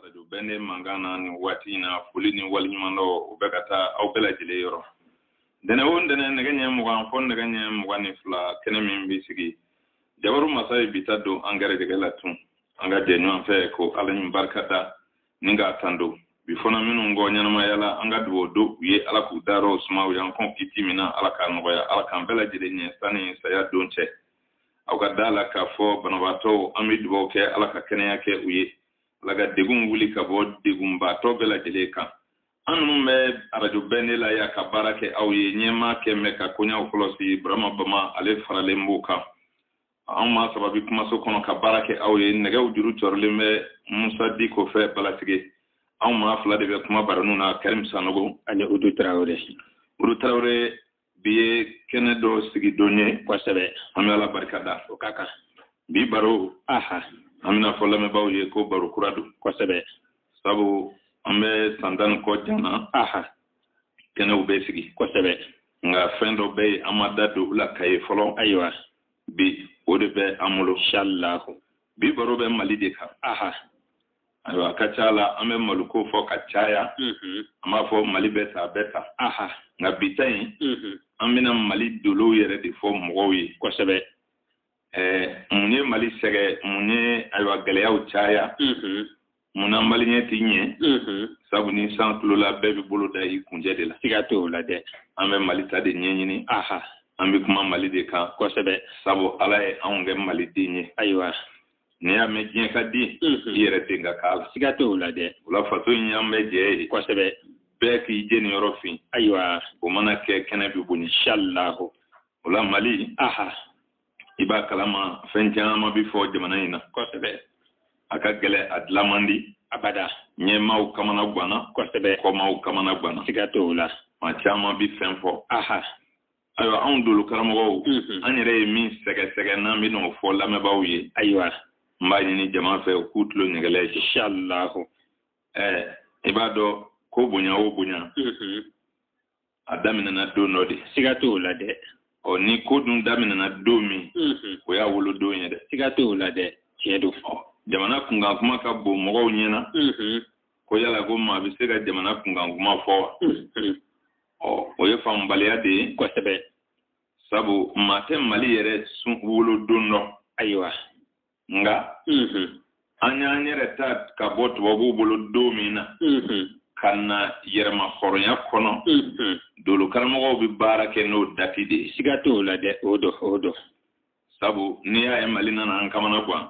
arajo bɛnde mankan na nin waati in na foli ni waleɲumandɔn o bɛ ka taa aw bɛɛ lajɛlen yɔrɔ ntɛnɛn o ntɛnɛn nɛgɛ ɲɛ mugan fo nɛgɛ ɲɛ mugan ni fila kɛnɛ min bɛ sigi jabaru masa ye bi ta don an gɛrɛjɛgɛ la tun an ka jɛ ɲɔgɔn fɛ ko ala ni barika da ni k'a tando bi fana minnu kɔ ɲɛnamaya la an ka dugawu do u ye ala k'u darɔ suma u y'an kɔn kiti min na ala k'a nɔgɔya ala k'an bɛɛ lajɛlen ɲɛ sanni saya don cɛ aw ka da la k'a fɔ banabaatɔw an bɛ dugawu kɛ ala ka kɛnɛya kɛ u ye ala ka degun wuli ka bɔ degunbaatɔ bɛɛ lajɛlen kan an minnu bɛ arajo bɛnde la yan ka baara kɛ aw ye ɲɛmaa kɛ mɛ ka koɲaw kɔlɔsi burama bama ale faralen b'u kan an maa saba bɛ kumaso kɔnɔ ka baara kɛ aw ye nɛgɛw juru cɔrilen bɛ musa diko fɛ balasige anw maa fila de bɛ kuma baranu na karim sanogo ani udu tarawele udu tarawele bi ye kɛnɛ dɔ sigi don ye kosɛbɛ an bɛ ala barika da o ka kan bi baro aha an bɛna fɔ lamɛnbaaw ye ko baro kura don kosɛbɛ sabu an bɛ san tan ni kɔ jana aha kɛnɛw bɛ sigi kosɛbɛ nka fɛn dɔ bɛ yen an ma da don o la ka ye fɔlɔ ayiwa bi o de bɛ an bolo inshallahu bi baro bɛ mali de kan aha ayiwa a ka ca la an bɛ maliko fɔ ka caya mhm. an b'a fɔ mali bɛɛ ta bɛɛ ta nka bi ta in mhm. an bɛna mali dolow yɛrɛ de fɔ mɔgɔw ye kosɛbɛ mun ye mali sɛgɛn mun ye ayiwa gɛlɛyaw caya mhm. mun na mali ɲɛ tɛ ɲɛ sabu ni san kulula bɛɛ bɛ bolo da i kuncɛ de la siga t'o la dɛ an bɛ mali ta de ɲɛɲini an bɛ kuma mali de kan kosɛbɛ sabu ala ye anw kɛ maliden ye ayiwa n'i y'a mɛn diɲɛ ka di i yɛrɛ ten ka k'a la siga t'o la dɛ o la faso in y'an bɛɛ jɛ ye kosɛbɛ bɛɛ k'i jeniyɔrɔ fiɲɛ ayiwa o mana kɛ kɛnɛ bɛ bɔn inshallahu o la mali aha i b'a kalama fɛn caman bɛ fɔ jamana in na kosɛbɛ a ka gɛlɛn a dilan man di abada ɲɛmaaw kamana guwanna kosɛbɛ kɔmaaw kamana guwanna siga t'o la maa caman bɛ fɛn fɔ aha ayiwa anw dolokaramɔgɔw mhm. an yɛrɛ ye min sɛgɛsɛgɛ n'an bɛn'o fɔ lamɛnbaaw ye ayiwa n b'a ɲini jama fɛ u k'u tulo ɲɛgɛlɛ inshallahu ɛɛ i b'a dɔn ko bonya o bonya mhm. a daminɛna don dɔ de siga t'o la dɛ ɔ ni ko dun daminɛna don min mhm. o y'a wolodon ye dɛ siga t'o la dɛ tiɲɛ don jamana kunkan kuma ka bon mɔgɔw ɲɛna ko yala ko maa bɛ se ka jamana kunkan kuma fɔ wa mm-hmm. ɔ o ye faamubaliya de ye kosɛbɛ sabu maa tɛ mali yɛrɛ sun wolodon dɔn ayiwa nka mm-hmm. an y'an yɛrɛ ta ka bɔ tubabuw bolo don min na mm-hmm. ka na yɛrɛmahɔrɔnya kɔnɔ dolokaramɔgɔw bɛ baara kɛ n'o dati de ye siga t'o la dɛ o don o don sabu n'i y'a ye mali nana an kamana gan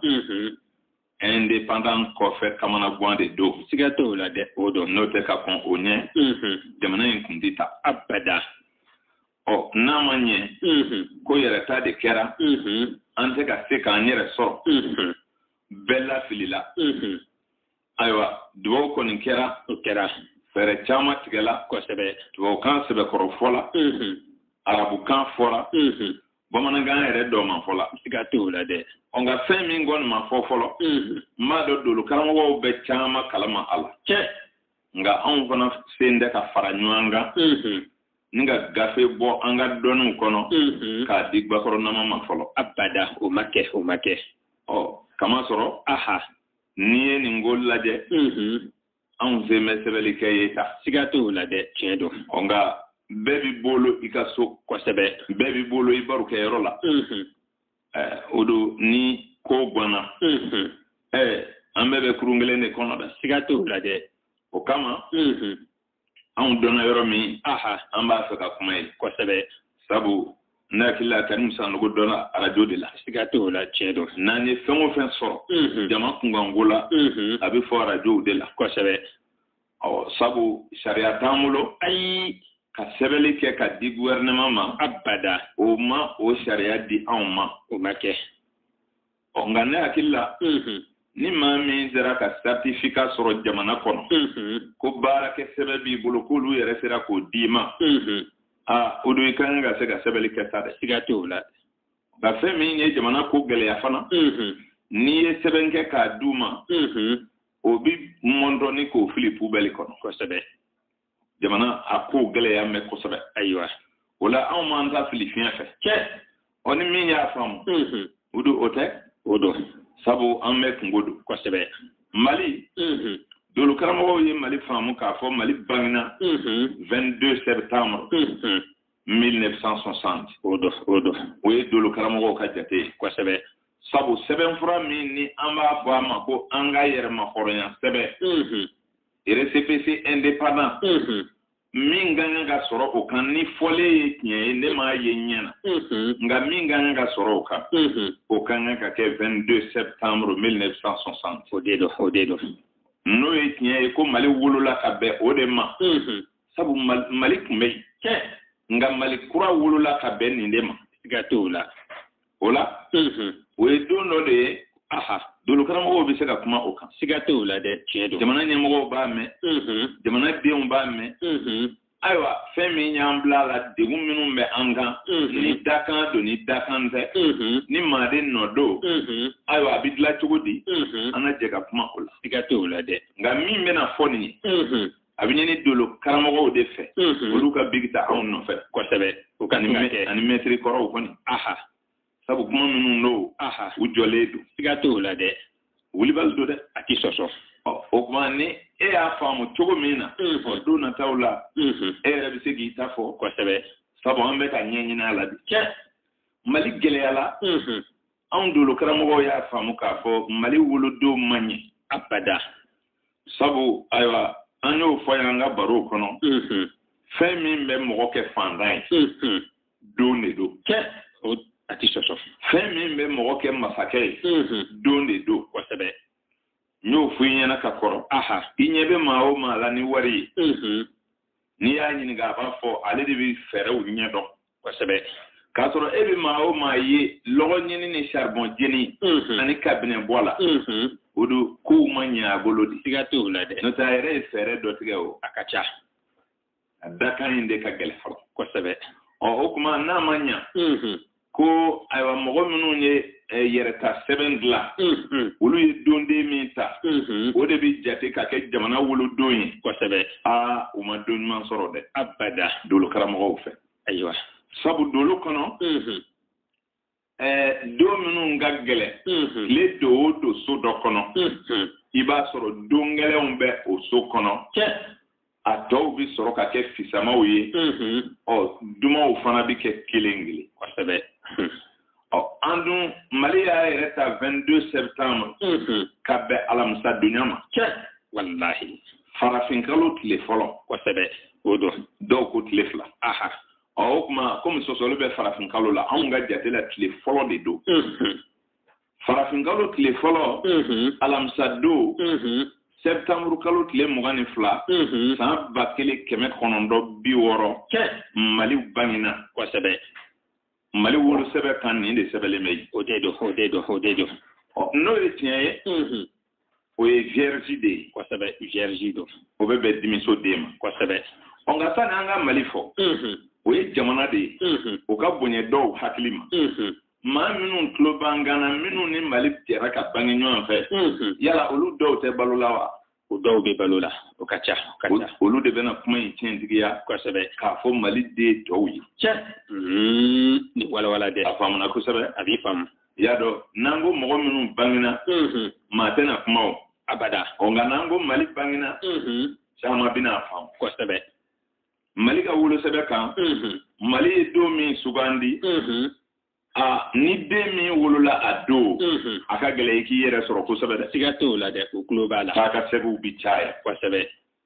indépendant kɔfɛ kamanagan de don siga t'o la dɛ o don n'o tɛ ka kɔn o ɲɛ jamana in kun tɛ ta abada ɔ n'a ma ɲɛ ko yɛrɛta de kɛra an tɛ ka se k'an yɛrɛ sɔrɔ bɛɛ lafilila ayiwa dubaw kɔni kɛra o kɛra fɛɛrɛ caman tigɛla kosɛbɛ tubabukan sɛbɛkɔrɔ fɔla arabukan fɔra bamanankan yɛrɛ dɔ ma fɔla siga t'o la dɛ nka fɛn min kɔni ma fɔ fɔlɔ n b'a dɔn dolo karamɔgɔw bɛ caman kalama a la cɛ nka anw fana sen tɛ ka fara ɲɔgɔn kan ni ka gafe bɔ an ka dɔnniw kɔnɔ k'a di bakɔrɔ nama ma fɔlɔ abada o ma kɛ o ma kɛ ɔ k'a masɔrɔ aha n'i ye nin ko lajɛ anw sen bɛ sɛbɛnli kɛ ye sa siga t'o la dɛ tiɲɛ don ɔ nka bɛɛ b'i bolo i ka so kosɛbɛ bɛɛ b'i bolo i barokɛyɔrɔ la o don ni ko ganna an bɛɛ bɛ kurun kelen de kɔnɔ dɛ siga t'o la dɛ o kama anw dɔnna yɔrɔ min an b'a fɛ ka kuma yen kosɛbɛ sabu ne hakili la karimu sanogo dɔnna arajo de la siga t'o la tiɲɛ don n'an ye fɛn o fɛn sɔrɔ mhm. jama kunkanko la mhm. a bɛ fɔ arajow de la kosɛbɛ ɔ sabu sariya t'an bolo ayi ka sɛbɛnni kɛ k'a di gouvernement ma abada o ma o sariya di anw ma o ma kɛ ɔ nka ne hakili la ni maa min sera ka certificat sɔrɔ jamana kɔnɔ ko baarakɛ sɛbɛn b'i bolo k'olu yɛrɛ sera k'o d'i ma aa o don i ka kan ka se ka sɛbɛnni kɛ sa dɛ siga t'o la nka fɛn min ye jamana ko gɛlɛya fana n'i ye sɛbɛn kɛ k'a d'u ma o bi mɔndɔ ni k'o fili pubɛli kɔnɔ kosɛbɛ jamana a ko gɛlɛyan bɛ kosɛbɛ ayiwa o la anw m'an ta fili fiɲɛ fɛ cɛ ɔ ni min y'a faamu o don o tɛ o don sabu an bɛɛ kunko don kosɛbɛ mali dolo karamɔgɔw ye mali faamu k'a fɔ mali bangena 22 septembre 1960 o don o don o ye dolo karamɔgɔw ka jate ye kosɛbɛ sabu sɛbɛnfura min ni an b'a fɔ a ma ko an ka yɛrɛmahɔrɔnya sɛbɛn récépissé indépendant min ka kan ka sɔrɔ o kan ni fɔlen ye tiɲɛ ye ne m'a ye n ɲɛ na nka min ka kan ka sɔrɔ o kan o ka kan ka kɛ 22 septembre 1960 o de don o de don n'o ye tiɲɛ ye ko mali wolola ka bɛn o de ma sabu mali tun bɛ yen nka mali kura wolola ka bɛn nin de ma siga t'o la o la o ye don dɔ de ye dolokaramɔgɔw bɛ se ka kuma o kan siga tɛ o la dɛ tiɲɛ don jamana ɲɛmɔgɔw b'a mɛn jamana denw b'a mɛn ayiwa fɛn min y'an bila la degun minnu bɛ an kan ni dakan don ni dakan tɛ ni maaden nɔ don ayiwa a bɛ dilan cogo di an ka jɛ ka kuma o la siga tɛ o la dɛ nka min bɛna fɔ nin ye a bɛ ɲini dolo karamɔgɔw de fɛ mhm. olu ka bigi ta anw nɔfɛ kosɛbɛ u ka nin kɛ ani mɛtiri kɔrɔw kɔni aha sabu kuma minnu don aha u jɔlen don siga t'o la dɛ wulibali don dɛ a tɛ sɔsɔ o kuma ni e y'a faamu cogo min na mhm. o don nataw la mhm. e yɛrɛ bɛ se k'i ta fɔ kosɛbɛ sabu an bɛ ka ɲɛɲini a la bi mali gɛlɛya la anw dolo karamɔgɔw y'a faamu k'a fɔ mali wolodon ma ɲɛ abada sabu ayiwa an y'o fɔ yan an ka barow kɔnɔ mm-hmm. fɛn min bɛ mɔgɔ kɛ fantan ye mm-hmm. don de don kɛ a tɛ sɔsɔ fɛn min bɛ mɔgɔ kɛ masakɛ ye mm-hmm. don de don kosɛbɛ n y'o fɔ i ɲɛna ka kɔrɔ aha i ɲɛ bɛ maa o maa la ni wari ye n'i y'a ɲininka a b'a fɔ ale de bɛ fɛɛrɛw ɲɛdɔn kosɛbɛ k'a sɔrɔ e bɛ maa o maa ye lɔgɔ ɲini ni charbon jeni ani kabinɛ bɔ la o don kow ma ɲɛ a bolo de siga t'o la dɛ n'o tɛ a yɛrɛ ye fɛɛrɛ dɔ tigɛ o a ka ca a dakan in de ka gɛlɛn fɔlɔ kosɛbɛ ɔ o kuma n'a ma ɲa ko ayiwa mɔgɔ minnu ye eh, yɛrɛta sɛbɛn dilan mhm. olu ye donden min ta mhm. o de bɛ jate ka kɛ jamana wolodon ye kosɛbɛ aa u ma don ɲuman sɔrɔ dɛ abada dolo karamɔgɔw fɛ ayiwa sabu dolo kɔnɔ mhm. eh, don minnu ka gɛlɛn tile don o don so dɔ kɔnɔ i b'a sɔrɔ don gɛlɛnw bɛ o so kɔnɔ a tɔw bɛ sɔrɔ ka kɛ fisamaw ye ɔ dumanw fana bɛ kɛ kelen kelen kosɛbɛ ɔ an dun mali y'a yɛrɛ ta 22 septembre ka bɛn alamisa donya ma cɛ walahi farafinkalo tile fɔlɔ kosɛbɛ o don dɔw ko tile fila aha ɔ o kuma komi sɔsɔli bɛ farafinkalo la anw ka jate la tile fɔlɔ de don farafinkalo tile fɔlɔ alamisa don sɛbitanburu kalo tile mugan ni fila san ba kelen kɛmɛ kɔnɔntɔn bi wɔɔrɔ mali bangina kosɛbɛ mali wolosɛbɛn kan nin de sɛbɛnlen bɛ yen o de don n'o ye tiɲɛ ye o ye vierge de ye kosɛbɛ vierge don o bɛ bɛn dimiso de ma kosɛbɛ ɔ nka sani an ka mali fɔ o ye jamana de ye o ka bonya dɔw hakili ma maa minnu tulo b'an kan na minnu ni mali jɛra ka bange ɲɔgɔn fɛ yala olu dɔw tɛ balo la wa o dɔw bɛ balo la o ka ca olu de bɛna kuma in tiɲɛtigiya kosɛbɛ k'a fɔ mali den tɔw ye cɛ ni walawala dɛ a faamuna kosɛbɛ a b'i faamu i y'a dɔn n'an ko mɔgɔ minnu bangena maa tɛna kuma o abada ɔ nka n'an ko mali bangena caman bɛna a faamu kosɛbɛ mali ka wolosɛbɛn kan mali ye don min sugandi ani den min wolola a don a ka gɛlɛn i k'i yɛrɛ sɔrɔ kosɛbɛ dɛ siga t'o la dɛ o tulo b'a la k'a ka sɛbɛnw bi caya kosɛbɛ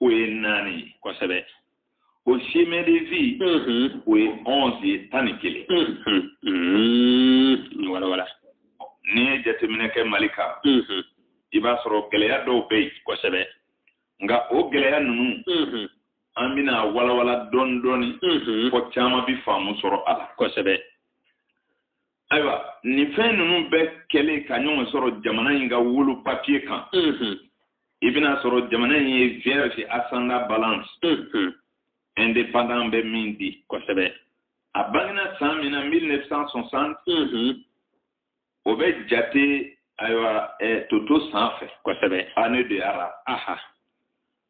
o ye naani ye kosɛbɛ o chemin de vie o ye onze ye tan ni kelen wala wala n'i ye jateminɛ kɛ mali kan i b'a sɔrɔ gɛlɛya dɔw bɛ yen kosɛbɛ nka o gɛlɛya ninnu an bɛna walawala dɔɔni dɔɔni fo caman bɛ faamu sɔrɔ a la kosɛbɛ ayiwa nin fɛn ninnu bɛɛ kɛlen ka ɲɔgɔn sɔrɔ jamana in ka wolo papiye kan i bɛna a sɔrɔ jamana in ye vierge ascendant balance indépendant bɛ min di kosɛbɛ a bangena san min na 1960 o bɛ jate ayiwa toto san fɛ kosɛbɛ année de ara aha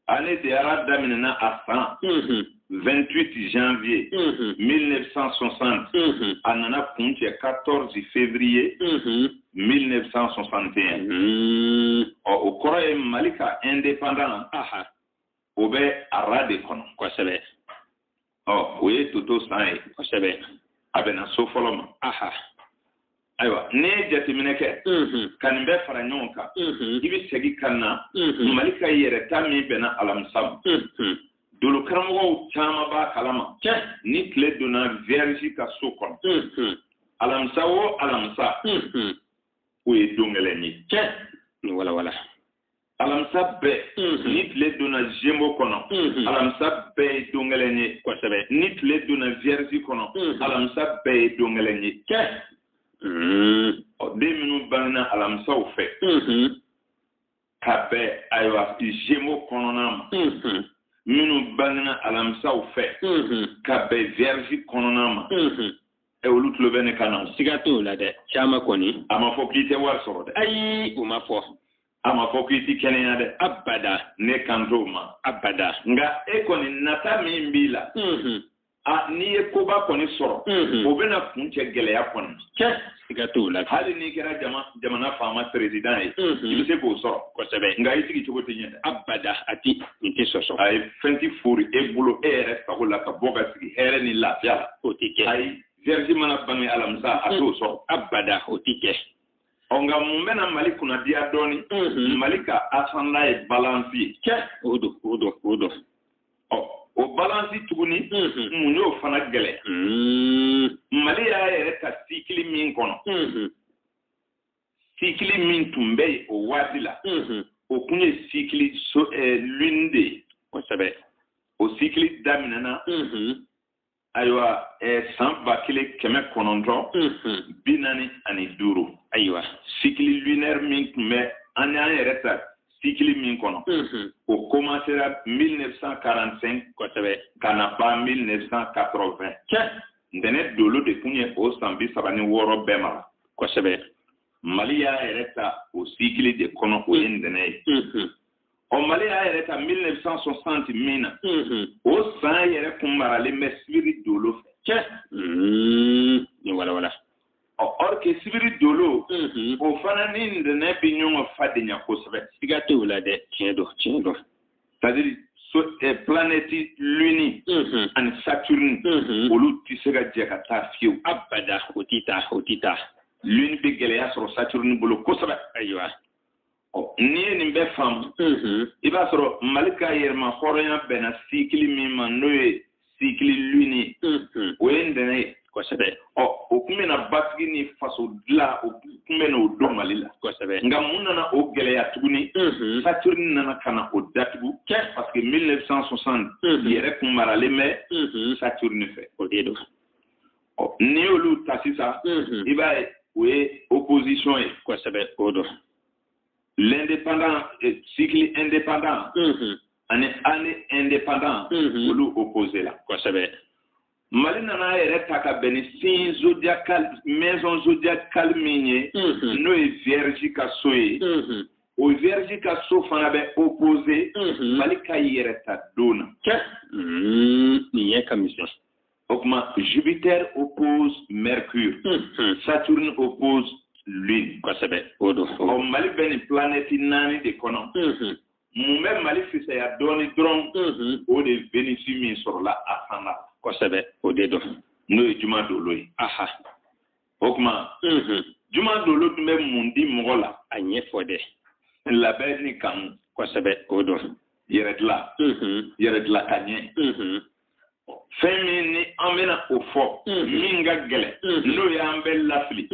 Année de ara daminɛna a san 28 janvier 1960 a nana kuncɛ 14 février 1961 ɔ o kɔrɔ ye Mali ka indépendant o bɛ ara de kɔnɔ kosɛbɛ ɔ o ye toto san ye kosɛbɛ a bɛnna so fɔlɔ ma ayiwa ne ye jateminɛ kɛ ka nin bɛɛ fara ɲɔgɔn kan i bɛ segin ka na mali ka yɛrɛta min bɛnna alamisa ma dolo karamɔgɔw caman b'a kalama ni tile donna vierge ka so kɔnɔ alamisa o alamisa o ye don gɛlɛn ye ni walawala alamisa bɛɛ mhm. ni tile donna gémeaux kɔnɔ mhm. alamisa bɛɛ ye don gɛlɛn ye kosɛbɛ ni tile donna vierge kɔnɔ mhm. alamisa bɛɛ ye don gɛlɛn ye kɛ den minnu bangena alamisaw fɛ ka bɛn ayiwa gémeaux kɔnɔna ma minnu bangena alamisaw fɛ ka bɛn vierge kɔnɔna ma ɛ olu tulo bɛ ne kan na siga t'o la dɛ caman kɔni a ma fɔ k'i tɛ wari sɔrɔ dɛ ayi o ma fɔ a ma fɔ ko i ti kɛnɛya dɛ abada ne kan t'o ma abada nka e kɔni nata min b'i la a n'i ye koba kɔni sɔrɔ o bɛna kuncɛ gɛlɛya kɔnɔ cɛ siga t'o la hali n'i kɛra jama jamana faama perezidan ye i bɛ se k'o sɔrɔ kosɛbɛ nka i sigi cogo tɛ ɲɛ dɛ abada a ti nin tɛ sɔsɔ ayi fɛn ti fori e bolo e yɛrɛ sago la ka bɔ ka sigi hɛrɛ ni lafiya la o tɛ kɛ ayi vierge mana bange alamisa a t'o sɔrɔ abada o tɛ kɛ ɔ nka mun bɛna mali kunnadiya dɔɔni mhm. mali ka asanda ye balansi ye cɛ o don o don o don ɔ o balansi tuguni mhm. mun y'o fana gɛlɛya mhm. mali y'a yɛrɛ ta sikili min kɔnɔ sikili min tun bɛ yen o waati la o kun ye sikili lune de ye kosɛbɛ o sikili daminɛna ayiwa san ba kelen kɛmɛ kɔnɔntɔn bi naani ani duuru ayiwa sikili lunaire min tun bɛ an y'an yɛrɛ ta sikili min kɔnɔ o komansera 1945 kosɛbɛ ka na ban 1980 cɛ ntɛnɛ dolo de kun ye o san bi saba ni wɔɔrɔ bɛɛ mara kosɛbɛ mali y'a yɛrɛ ta o sikili de kɔnɔ o ye ntɛnɛ ye ɔ mali y'a yɛrɛ ta 1960 min na o san yɛrɛ kun maralen bɛ sibiri dolo fɛ cɛ ni walawala ɔ or que sibiri dolo o fana ni ntɛnɛ bɛ ɲɔgɔn fadenya kosɛbɛ siga tɛ o la dɛ tiɲɛ don tiɲɛ don c'est à dire so eh, planète luni ani saturne olu tɛ se ka jɛ ka taa fiyewu abada o tɛ taa o tɛ taa luni bɛ gɛlɛya sɔrɔ saturne bolo kosɛbɛ ayiwa n'i ye nin bɛɛ faamu i b'a sɔrɔ mali ka yɛrɛmahɔrɔnya bɛnna sikili min ma n'o ye sikili luni o ye ntɛnɛ ye kosɛbɛ ɔ o kun bɛna basigi ni faso dila o kun bɛna o don mali la kosɛbɛ nka mun nana o gɛlɛya tuguni saturni nana ka na o datugu kɛ parce que 1960 yɛrɛ kun maralen bɛ saturni fɛ o de don ɔ n'i y'olu ta sisan i b'a ye o ye opposition ye kosɛbɛ o don l'indépendant eh, cycle indépendant ani année indépendant olu opposé la kosɛbɛ mali nana a yɛrɛ ta ka bɛn ni signe zodiacal maison zodiacale min ye n'o ye vierge ka so ye o vierge ka so fana bɛ opposé mali ka yɛrɛ ta don na nin ɲɛ ka misɛn O tuma Jupiter oppose Mercure, mm -hmm. Saturne oppose Lune. Kosɛbɛ, o don. Ɔ Mali bɛ nin planète naani de kɔnɔ. Mm -hmm. Mun bɛ Mali fisaya dɔɔni dɔrɔn, mm -hmm. o de ye Venus min sɔrɔla a san na. Kosɛbɛ, o de don. N'o ye juma dolo ye. Aha. O tuma, mm -hmm. juma dolo dun bɛ mun di mɔgɔ la? A ɲɛfɔ dɛ. Labɛn ni kanu. Kosɛbɛ, o don. Yɛrɛ dilan. Mm -hmm. Yɛrɛ dilan ka ɲɛ. Mm -hmm. fɛn min ni an bɛna o fɔ min ka gɛlɛn n'o y'an bɛ lafili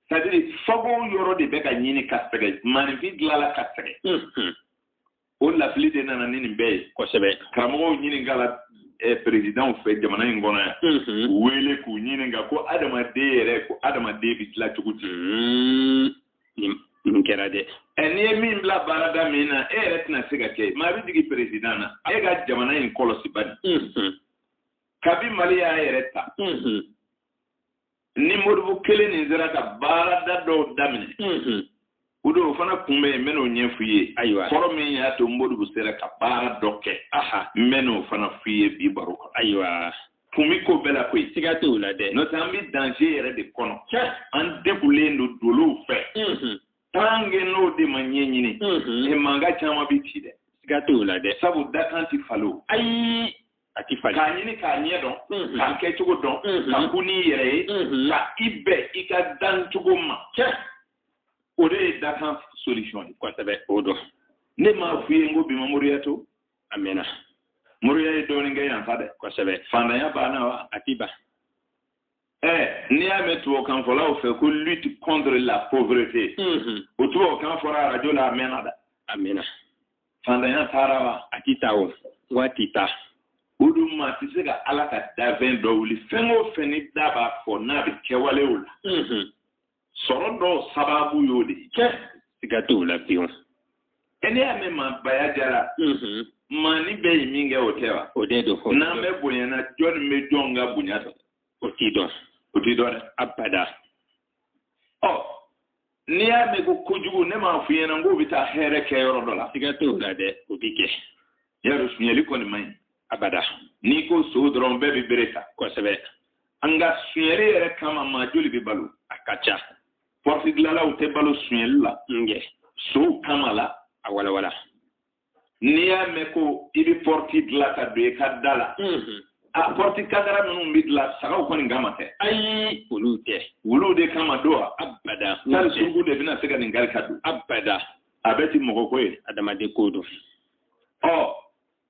c'est-à-dire fago yɔrɔ de bɛ ka ɲini ka sɛgɛ maaninfin dilanla ka sɛgɛ o lafili de nana ni nin bɛɛ ye kosɛbɛ karamɔgɔw ɲininkala eh, perezidanw fɛ jamana in kɔnɔ yan u wele k'u ɲininka ko adamaden yɛrɛ ko adamaden bɛ dilan cogo di nin kɛra dɛ ɛ n'i ye min bila baarada min na e yɛrɛ tɛna se ka kɛ maa bɛ jigin perezidan na e ka jamana in kɔlɔsi bani kabi mali y'a yɛrɛ ta ni modibo kelen nin sera ka baarada dɔw daminɛ o don o fana kun bɛ yen n bɛn'o ɲɛf'i ye ayiwa kɔrɔ min y'a to modibo sera ka baara dɔ kɛ n bɛn'o fana f'i ye bi baro kɔnɔ ayiwa kun bɛ ko bɛɛ la koyi. siga t'o la dɛ. n'o tɛ an bɛ danger yɛrɛ de kɔnɔ. tiɲɛ. an degulen don dolow fɛ. Mhm. tant que n'o de ma ɲɛɲini. nin mhm. mankan caman bɛ ci dɛ. siga t'o la dɛ. sabu dakan ti falen. ayi a ti falen. k'a ɲini k'a ɲɛ dɔn. Mhm. k'a kɛ cogo dɔn. ka kun n'i yɛrɛ ye. ka i bɛn i ka dan cogo ma. tiɲɛ. o de ye dakan solution ye. kosɛbɛ o don. ne m'a f'i ye n ko bi ma moriya to. a mɛnna moriya ye dɔɔnin kɛ yan sa dɛ kosɛbɛ fantanya banna wa a ti ban Eh, n'i y'a mɛn tubabukanfɔlaw fɛ ko lutte contre la pauvreté mhm. o tubabukan fɔra arajo la a mɛnna dɛ a mɛnna fantanya taara wa a ti taa o wa a ti taa o dun maa tɛ se ka ala ka dafɛn dɔ wuli fɛn o fɛn ni da b'a fɔ n'a bɛ kɛwalew la mhm. sɔrɔ dɔw sababu y'o de ye siga t'o la pewu ɛ n'i y'a mɛn maabaya jara mhm. maanin bɛ yen minkɛ o tɛ wa o de don ɔ n'an bɛɛ bonyana jɔn bɛ jɔn ka bonya dɔn o ti dɔn o ti dɔn dɛ abada ɔ n'i y'a mɛn ko kojugu ne m'a f'i ɲɛna k'o bɛ taa hɛrɛ kɛ yɔrɔ dɔ la siga t'o la dɛ o bɛ kɛ y'a dɔn sunyali kɔni man ɲi abada n'i ko son dɔrɔn bɛɛ bɛ bere ta kosɛbɛ nka sunyɛli yɛrɛ kama maa joli bɛ balo a ka ca pɔrɔti dilanlaw tɛ balo sunyɛli la nkɛ sonw kama la a walawala n'i y'a mɛn ko i bɛ pɔrɔti dilan ka don i ka da la mhm. a pɔrɔti kadara minnu bɛ dilan sagaw kɔni kama tɛ ayi olu tɛ wuluw de kama don wa abada tari suruku de bɛna se ka nin kari ka don abada a bɛɛ tɛ mɔgɔ ko ye adamaden ko don ɔ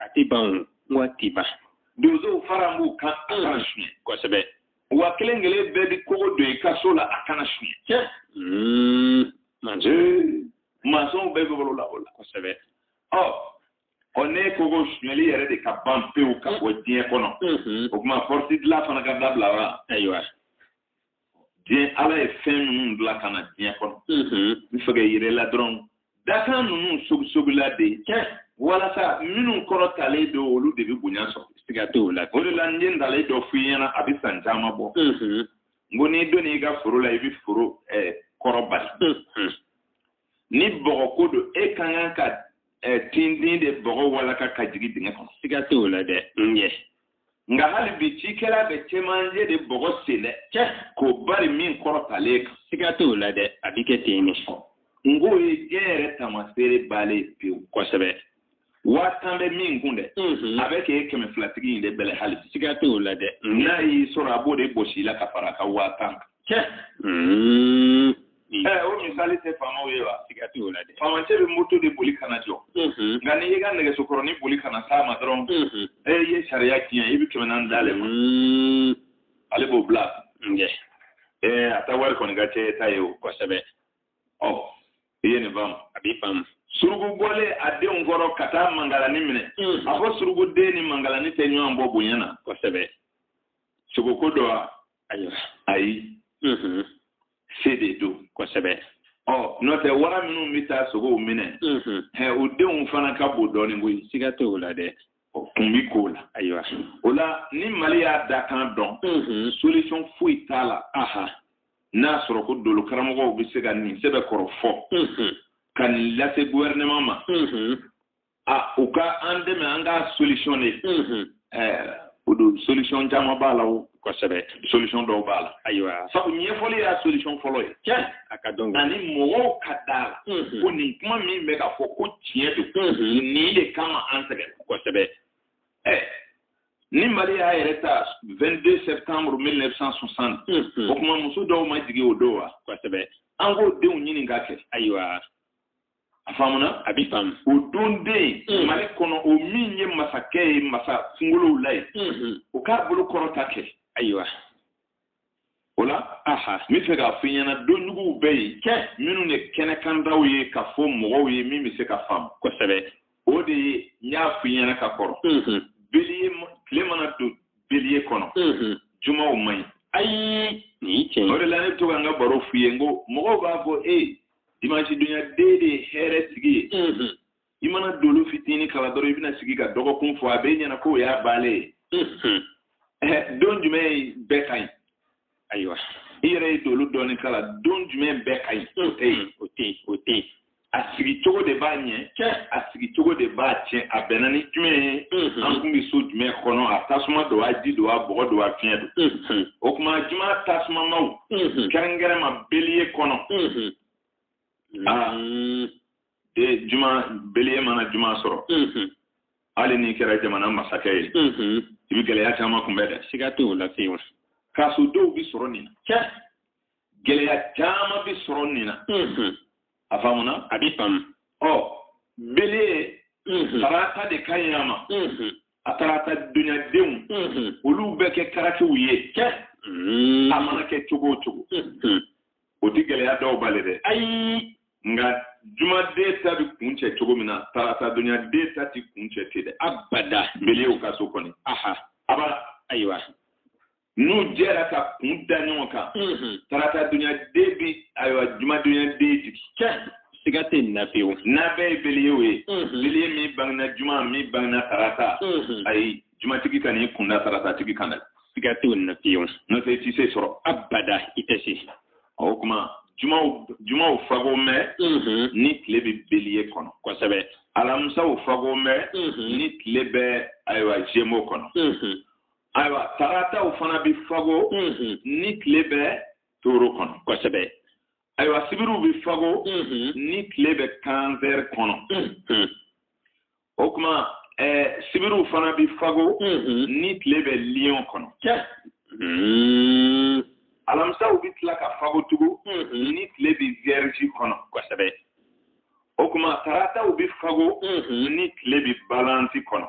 a tɛ ban o n ko a tɛ ban donsow fara b'u kan a kana suɲɛ kosɛbɛ wa kelen kelen bɛɛ bɛ kogo don i ka so la a kana suɲɛ tiɲɛ hmm, manso mansɔnw bɛɛ bɛ balo la o la kosɛbɛ ɔ ɔ n'e ko ko suɲɛli yɛrɛ de ka ban pewu ka bɔ diɲɛ kɔnɔ o tuma pɔrɔti dilan fana ka dabila wa ayiwa diɲɛ ala ye fɛn ninnu bila ka na diɲɛ kɔnɔ n fɛ k'a yir'i la dɔrɔn dakan ninnu sogisogila de ye walasa minnu kɔrɔtalen don olu de bɛ bonya sɔrɔ siga t'o la o de la n ye ntalen dɔ f'i ɲɛna a bɛ san caman bɔ n ko n'i donn'i ka foro la i bɛ foro kɔrɔ bari ni bɔgɔ ko don e ka kan ka eh, tintin de bɔgɔ walaka ka jigin dingɛ kɔnɔ siga tɛ o la dɛ n ye nka hali bi cikɛla bɛ cɛmancɛ de bɔgɔ sen dɛ cɛ k'o bari min kɔrɔtalen kan siga tɛ o la dɛ a bɛ kɛ ten de n k'o ye diɲɛ yɛrɛ tamaseere baale ye pewu kosɛbɛ waa tan bɛ min kun dɛ mhm. a bɛ k'e kɛmɛ filatigi in de bɛlɛ hali bi siga t'o la dɛ mhm. n'a y'i sɔrɔ a b'o de bɔs'i la ka fara a ka waa tan kan mhm. eh, o misali tɛ faamaw ye wa siga t'o la dɛ faamacɛ bɛ moto de boli ka na jɔ nka n'i y'i ka nɛgɛsokɔrɔnin boli ka na s'a ma dɔrɔn e ye sariya tiɲɛ i bɛ kɛmɛ naani d'ale ma ale b'o bila eh, a ta wari kɔni ka c'e ta ye o kosɛbɛ ɔ i ye nin faamu a bi faamu suruku bɔlen a denw kɔrɔ ka taa mangalani minɛ hmm. a fɔ suruku den ni mangalani tɛ ɲɔgɔn bɔ bonya na kosɛbɛ sogoko don wa ayi hmm. se de don kosɛbɛ ɔ n'o tɛ wara minnu bɛ taa sogow minɛ ɛ o denw fana ka bon dɔɔnin koyi siga t'o la dɛ o kun b'i k'o la ayiwa o la ni mali y'a dakan dɔn solution foyi t'a la n'a sɔrɔ ko dolo karamɔgɔw bɛ se ka nin sɛbɛkɔrɔ fɔ ka nin lase gouvernement ma a u ka an dɛmɛ an ka solution de o don solution caman b'a la o kosɛbɛ solution dɔw b'a la ayiwa sabu ɲɛfɔli y'a solution fɔlɔ ye tiɲɛ a ka dɔn ani mɔgɔw ka d'a la ko nin kuma min bɛ ka fɔ ko tiɲɛ don nin de kama an sɛgɛnna kosɛbɛ ɛ ni mali y'a yɛrɛ ta 22 septembre 1960 mhm. o tuma muso dɔw ma jigin o don wa kosɛbɛ an k'o denw ɲini ka kɛ ayiwa a faamuna a bi faamu o don den mhm. mali kɔnɔ o min ye masakɛ ye masa kungolow la ye mhm. o k'a bolo kɔrɔta kɛ ayiwa o la aha n bɛ fɛ k'a fɔ i ɲɛna donjuguw bɛ yen cɛ minnu ye kɛnɛkandaw ye ka fɔ mɔgɔw ye min bɛ se ka faamu kosɛbɛ o de ye n y'a fɔ i ɲɛna ka kɔrɔ bélier tile mana don bélier kɔnɔ jumaw man ɲi ayi nin cɛ o de la ne bɛ to ka n ka baro f'u ye n ko mɔgɔw b'a fɔ ee dimanche dunya den de ye hɛrɛtigi ye i mana dolo fitini kalan dɔrɔn i bɛna sigi ka dɔgɔkun fɔ a b'i ɲɛna k'o y'a banlen ye mhm. eh, don jumɛn bɛɛ ka ɲi ayiwa i yɛrɛ ye dolo dɔɔni kalan don jumɛn bɛɛ ka ɲi o tɛ yen mhm. o tɛ yen o tɛ yen a sigi cogo de b'a ɲɛ cɛ a sigi cogo de b'a tiɲɛ a bɛnna ni jumɛn ye mhm. an kun bɛ so jumɛn kɔnɔ a tasuma don a ji don a bɔgɔ don a fiɲɛ don o kuma juma tasumamaw kɛrɛnkɛrɛn ma beliye kɔnɔ aa e juma beliye mana juma sɔrɔ hali n'i kɛra jamana masakɛ ye i bɛ gɛlɛya caman kunbɛn dɛ siga t'o la fiyewu kaso dɔw bɛ sɔrɔ nin na gɛlɛya caman bɛ sɔrɔ nin na a faamuna a bɛ faamu ɔ beliye tarata de ka ɲi a ma a tarata dunyadenw olu bɛ kɛ karakiw ye kɛ a mana kɛ cogo o cogo o tɛ gɛlɛya dɔw bali dɛ ayi nka jumaden ta bɛ kuncɛ cogo min na tarata dunyaden ta tɛ kuncɛ ten dɛ abada beliyew ka so kɔni aha aba ayiwa n'u jɛra ka kun da ɲɔgɔn kan tarata dunyaden bɛ ayiwa juma dunyaden jigin siga tɛ nin na pewu n'a bɛɛ ye beliyew ye beliye min bangena juma min bangena tarata ayi jumatigi kan'i kun da taratatigi kan dɛ siga tɛ nin na pewu n'o tɛ i tɛ se sɔrɔ abada i tɛ se o kuma jumaw fago mɛ ni tile bɛ beliye kɔnɔ kosɛbɛ alamusaw fago mɛ ni tile bɛ ayiwa zemo kɔnɔ ayiwa tarataw fana bɛ fago ni tile bɛ toro kɔnɔ kosɛbɛ ayiwa sibiriw bɛ fago ni tile bɛ kansɛri kɔnɔ o kuma sibiriw fana bɛ fago ni tile bɛ liyɔn kɔnɔ alamisaw bɛ tila ka fago tugu ni tile bɛ viyɛrizi kɔnɔ kosɛbɛ o kuma tarataw bɛ fago ni tile bɛ balansi kɔnɔ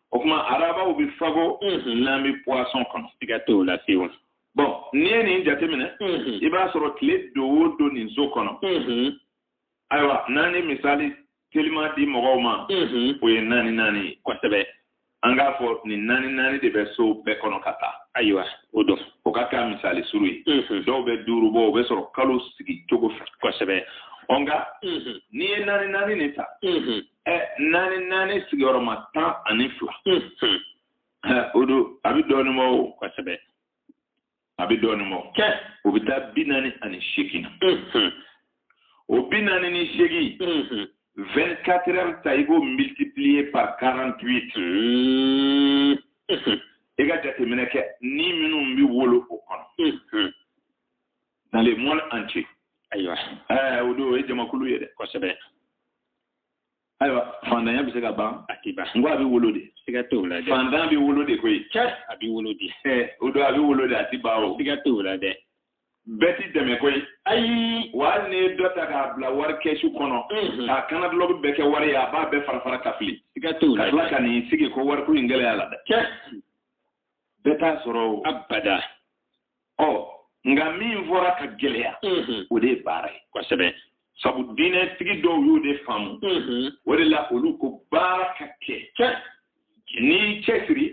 o kuma arabaw bɛ fago n'an bɛ poisson kɔnɔ siga t'o la fiyewu bɔn n'i ye nin jateminɛ i b'a sɔrɔ tile don o don nin so kɔnɔ ayiwa n'an ye misali teliman di mɔgɔw ma o ye naani naani ye kosɛbɛ an k'a fɔ nin naani naani de bɛ so bɛɛ kɔnɔ ka taa ayiwa o don o ka k'a misali surun ye dɔw bɛ duuru bɔ o bɛ sɔrɔ kalo sigi cogo fɛ kosɛbɛ ɔ nka n'i ye naani naani nin ta ɛ naani naani sigiyɔrɔma tan ani fila o don a bɛ dɔɔnin bɔ o kosɛbɛ a bɛ dɔɔnin bɔ kɛ o bɛ taa bi naani ani seegin na o bi naani ni seegin 24 heures ta i b'o multiplier par 48 i ka jateminɛ kɛ ni minnu bɛ wolo o kɔnɔ dans le monde entier ayiwa ɛɛ o don o ye jamakulu ye dɛ kosɛbɛ ayiwa fantanya bɛ se ka ban a tɛ ban n ko a bɛ wolo de siga t'o la dɛ fantan bɛ wolo de koyi cɛ a bɛ wolo de ɛɛ o don a bɛ wolo de a tɛ ban o siga t'o la dɛ bɛɛ tɛ dɛmɛ koyi ayi wa hali n'i ye dɔ ta k'a bila wari kɛsu kɔnɔ k'a kan na dulɔki bɛɛ kɛ wari ye a b'a bɛɛ fara fara ka fili siga t'o la ka tila ka n'i sigi ko wariko in gɛlɛya la dɛ cɛ bɛɛ t'a sɔrɔ o abada ɔ nka min fɔra ka gɛlɛya o de ye baara ye kosɛbɛ sabu diinɛtigi dɔw y'o de faamu o de la olu ko baara ka kɛ cɛ n'i cɛsiri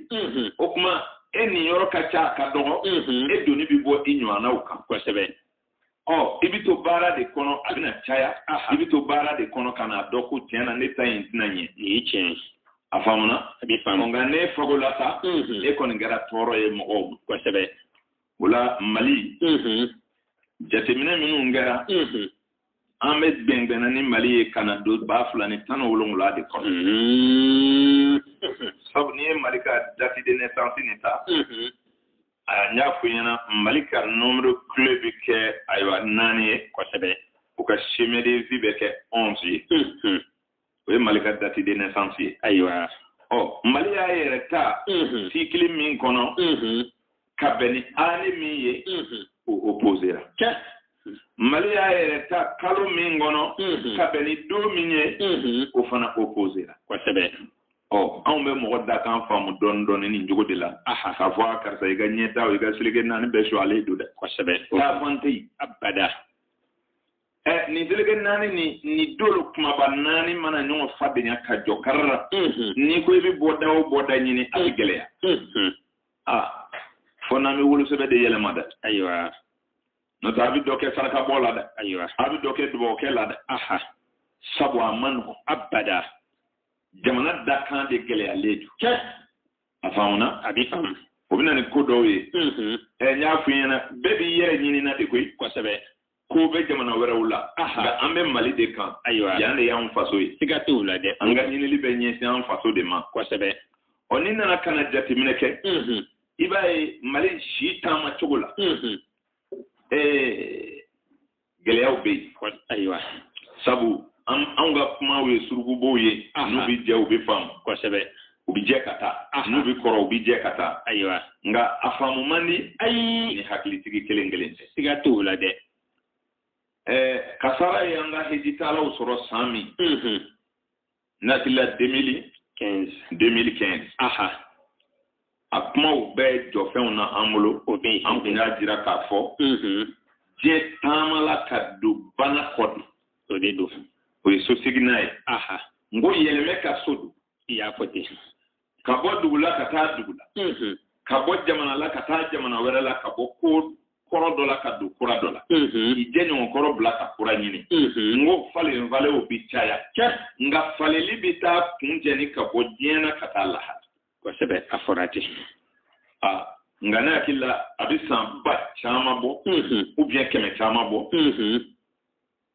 o kuma e niyɔrɔ ka ca a ka dɔgɔ e doni bɛ bɔ i ɲɔgɔnnaw kan kosɛbɛ ɔ i bɛ to baara de kɔnɔ a bɛna caya i bɛ to baara de kɔnɔ ka n'a dɔn ko tiɲɛ na ne ta in tɛna ɲɛ nin ye tiɲɛ ye a faamuna a bɛ faamu nka ne fago la sa e kɔni kɛra tɔɔrɔ ye mɔgɔw ma kosɛbɛ o la mali jateminɛ minnu kɛra an bɛ gɛngɛnna ni mali ye ka na don ba fila ni tan ni wolonwula de kɔnɔ sabu n'i ye mali ka date de naissance nin ta a n y'a f'i ɲɛna mali ka nombre clé bɛ kɛ ayiwa naani ye kosɛbɛ o ka chemin de vie bɛ kɛ onze ye o ye mali ka date de naissance ye ayiwa ɔ mali y'a yɛrɛ ta cycle min kɔnɔ ka bɛn ni année min ye o opposera mali y'a yɛrɛ ta kalo min kɔnɔ ka bɛn ni don min ye o fana opposera kosɛbɛ ɔ anw bɛ mɔgɔ dakan faamu dɔɔni dɔɔni nin cogo de la k'a fɔ a karisa i ka ɲɛtaa i ka seleke naani bɛɛ sɔgɔlen don dɛ kosɛbɛ taafan tɛ yen abada ɛ nin seleke naani ni nin dolo kumaba naani mana ɲɔgɔn fadenya ka jɔ karara n'i ko i bɛ bɔda o bɔda ɲini a bɛ gɛlɛya aa fo n'an bɛ wolosɛbɛn de yɛlɛma dɛ ayiwa n'o tɛ a bɛ dɔ kɛ sarakabɔ la dɛ ayiwa a bɛ dɔ kɛ dugawukɛ la dɛ sabu a man nɔgɔn abada jamana dakan de gɛlɛyalen don cɛ a faamuna a bɛ faamu o bɛ na ni ko dɔw ye ɛ n y'a f'i ɲɛna bɛɛ b'i yɛrɛ ɲinina de koyi kosɛbɛ ko bɛ jamana wɛrɛw la nka an bɛ mali de kan ayiwa yan de y'an faso ye siga t'o la dɛ an ka ɲinili bɛ ɲɛsin an faso de ma kosɛbɛ ɔ n'i nana ka na jateminɛ kɛ i b'a ye mali si taama cogo la ɛɛ gɛlɛyaw bɛ yen ayiwa sabu an anw ka kumaw ye surukubow ye n'u bɛ jɛ u bɛ faamu kosɛbɛ u bɛ jɛ ka taa n'u bɛ kɔrɔ u bɛ jɛ ka taa ayiwa nka a faamu man di ayi ni hakilitigi kelen kelen tɛ siga t'o la dɛ ɛɛ kasara ye an ka hejitaalaw sɔrɔ san min N hakili la 2015 2015 aha a kumaw bɛɛ jɔfɛnw na an bolo o bɛ an tun y'a jira k'a fɔ diɲɛ taama la ka don bana kɔ de o de don o ye so seginna ye aha n ko yɛlɛmɛ ka so don i y'a fɔ ten ka bɔ dugu la ka taa dugu la ka bɔ jamana la ka taa jamana wɛrɛ la ka bɔ ko kɔrɔ dɔ la ka don kura dɔ la k'i jɛɲɔgɔn kɔrɔ bila ka kura ɲini n ko falenfalenw bi caya nka faleli bi taa kuncɛ ni ka bɔ diɲɛ na ka taa lahara kosɛbɛ a fɔra ten nka ne hakili la a bɛ san ba caman bɔ ou bien kɛmɛ caman bɔ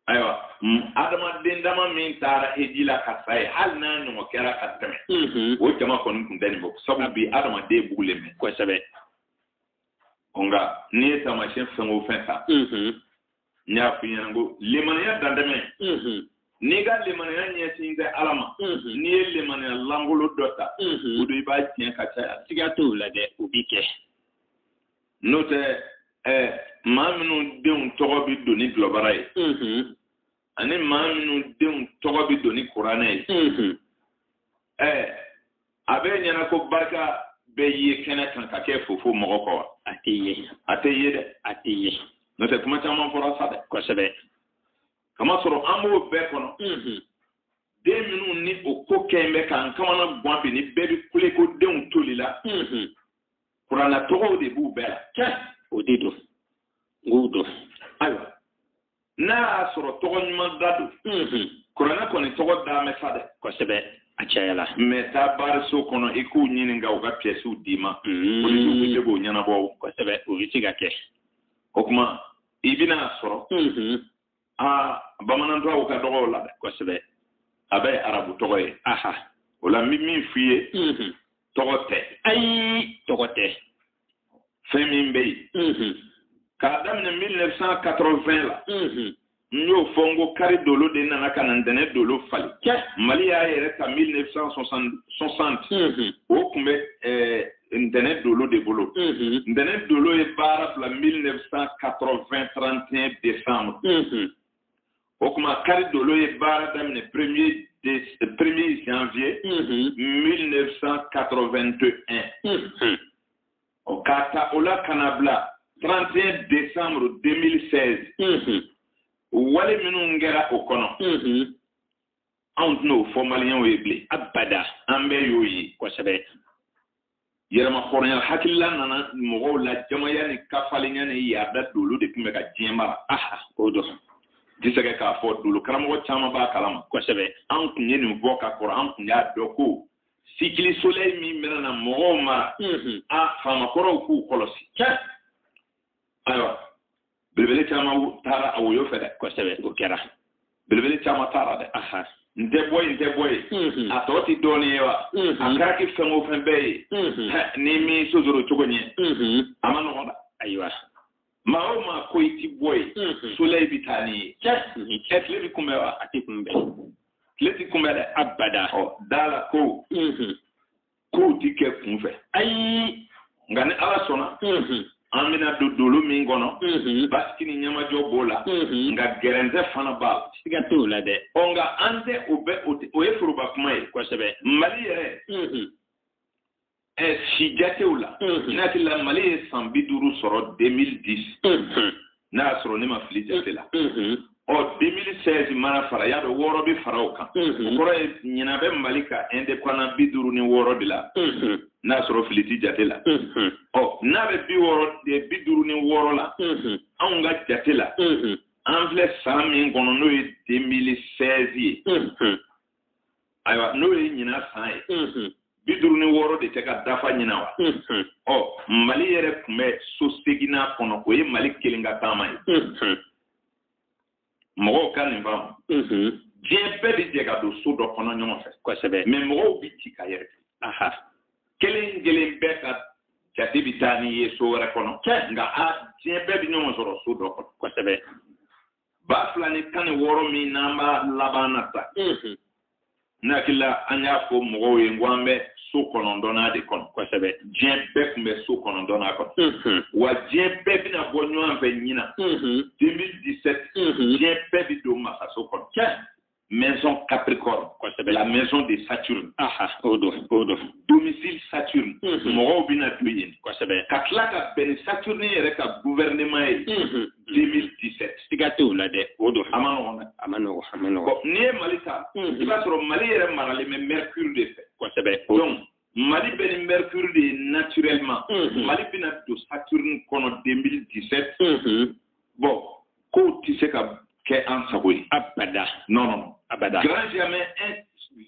ayiwa adamaden dama min taara heji la ka sa ye hali n'a ɲɔgɔn kɛra ka tɛmɛ mm-hmm. o jama kɔni tun tɛ nin bɔ sabu bi adamaden bugulen bɛ kosɛbɛ nka n'i ye taamasiyɛn fɛn o fɛn ta mm-hmm. n y'a f'i ɲɛ na ko limaniya dantɛmɛ mm-hmm. n'i ka limaniya ɲɛsin tɛ ala ma n'i ye limaniya lankolon dɔ ta o don i b'a tiɲɛ ka caya siga t'o la dɛ o b'i kɛ n'o tɛ ɛ maa minnu denw tɔgɔ bɛ don ni dɔlɔbara ye ani maa minnu denw tɔgɔ bɛ don ni kuranɛ ye ɛ a bɛ ɲɛ na ko barika bɛ ye kɛnɛ kan ka kɛ fofo mɔgɔ kɔ wa a tɛ ye a tɛ ye dɛ a tɛ ye n'o tɛ kuma caman fɔra sa dɛ kosɛbɛ kamasɔrɔ an b'o bɛɛ kɔnɔ den minnu ni o ko kɛ bɛ k'an kamanagan bi ni bɛɛ bɛ kule ko denw tolila kuranna tɔgɔw de b'u bɛɛ la tiɲɛ o de don n k'o don ayiwa n'a y'a sɔrɔ tɔgɔ ɲuman da don mhm. kuranna kɔni tɔgɔ dan bɛ sa dɛ kosɛbɛ a cayala mɛ taa baariso kɔnɔ i k'u ɲininka u ka piyɛsiw d'i ma mhm. polisiw bɛ se k'o ɲɛnabɔ kosɛbɛ o bɛ se ka kɛ o tuma i bɛn'a sɔrɔ mhm. aa bamanan tɔgɔw ka dɔgɔ u la dɛ kosɛbɛ a bɛɛ ye arabu tɔgɔ ye aha o la n bɛ min f'i ye mhm. tɔgɔ tɛ ayi tɔgɔ tɛ fɛn min bɛ yen mhm. k'a daminɛ 1980 la mhm. n y'o fɔ n ko kari dolo de nana ka na ntɛnɛn dolo falen mali y'a yɛrɛ ta 1960 o tun bɛ ntɛnɛn dolo de bolo ntɛnɛn mhm. dolo ye baara bila 1980 31 décembre mhm. o tuma kari dolo ye baara daminɛ premier janvier 1981 mhm. o k'a ta o la ka na bila 31 décembre 2016 wale minnu kɛra o kɔnɔ anw tɛna o fɔ maliyɛnw ye bilen abada an bɛɛ y'o ye kosɛbɛ yɛrɛmahɔrɔnya hakilila nana mɔgɔw la jamaya ni kafalenya ni yaada dolo de tun bɛ ka diɲɛ mara aha o don disɛgɛ k'a fɔ dolo karamɔgɔ caman b'a kalama kosɛbɛ an tun ye nin fɔ ka kɔrɔ an tun y'a dɔn ko cycle soleil min bɛna na mɔgɔw mara a faamakɔrɔw k'u kɔlɔsi ayiwa belebele caman taara a woyo fɛ dɛ kosɛbɛ o kɛra belebele caman taara dɛ n tɛ bɔ yen n tɛ bɔ yen mm-hmm. a tɔ ti dɔɔnin ye wa mm-hmm. a kɛra ki fɛn o fɛn bɛɛ ye mm-hmm. ni min sosoro cogo ɲɛ a man nɔgɔn dɛ ayiwa maa o maa ko i ti bɔ yen soleil bi taa n'i ye ɛ tile bi kunbɛn wa a ti kunbɛn tile ti kunbɛn dɛ abada ɔ da la ko kow ti kɛ kunfɛ ayi nka ni ala sɔnna an bɛna don dolo min kɔnɔ mhm. basigi ni ɲamajɔ b'o la mhm. nka gɛrɛntɛ fana b'a la siga t'o la dɛ ɔ nka an tɛ o bɛ o ye foroba kuma ye kosɛbɛ mali yɛrɛ mhm. ɛ si jatew la n'a tila mali ye san bi duuru sɔrɔ 2010 n'a sɔrɔ ne ma fili jate la ɔ 2016 mana fara y'a dɔn wɔɔrɔ bɛ fara o kan o kɔrɔ ye ɲinan bɛ mali ka indépendance bi duuru ni wɔɔrɔ de la n'a sɔrɔ fili tɛ jate la ɔ n'a bɛ bi wɔɔrɔ bi duuru ni wɔɔrɔ la anw ka jate la an filɛ san min kɔnɔ n'o ye 2016 ye ayiwa n'o ye ɲinan san ye mm-hmm. bi duuru ni wɔɔrɔ de tɛ ka dafa ɲinan wa mm-hmm. ɔ mali yɛrɛ tun bɛ so seginnan kɔnɔ o ye mali kelen ka taama ye mm-hmm. mɔgɔw ka nin faamu diɲɛ bɛɛ bɛ jɛ ka don so dɔ kɔnɔ ɲɔgɔn fɛ kosɛbɛ mais mɔgɔw bɛ ci ka yɛrɛ kelen kelen bɛɛ ka jate bɛ taa n'i ye so wɛrɛ kɔnɔ nka a diɲɛ bɛɛ bɛ ɲɔgɔn sɔrɔ so dɔ kɔnɔ kosɛbɛ ba fila ni tan ni wɔɔrɔ min n'an b'a laban na sa ne hakili la an y'a fɔ mɔgɔw ye n ko an bɛ so kɔnɔntɔnnan de kɔnɔ kosɛbɛ diɲɛ bɛɛ tun bɛ so kɔnɔntɔnnan kɔnɔ wa diɲɛ bɛɛ bɛna bɔ ɲɔgɔn fɛ ɲinan 2017 diɲɛ bɛɛ bɛ don masaso kɔnɔ maison Capricorne, la maison de Saturne. Aha, o don, Domicile Saturne. Mhm. Mɔgɔw bɛna don yen. Kosɛbɛ. Ka tila ka bɛn ni Saturne yɛrɛ ka gouvernement ye. 2017. Siga tɛ o la dɛ. O don. A man nɔgɔn dɛ. A man nɔgɔn. A man nɔgɔn. Bon n'i ye Mali ta. Mhm. I b'a sɔrɔ Mali yɛrɛ maralen bɛ Mercure de fɛ. Kosɛbɛ. Donc Mali bɛ ni Mercure de ye naturellement. Unhun. Mali bɛna don Saturne kɔnɔ 2017. Unhun. Bon, kow tɛ se ka kɛ an sago ye. Abada. Non, non, non. Abada. Grand jamais un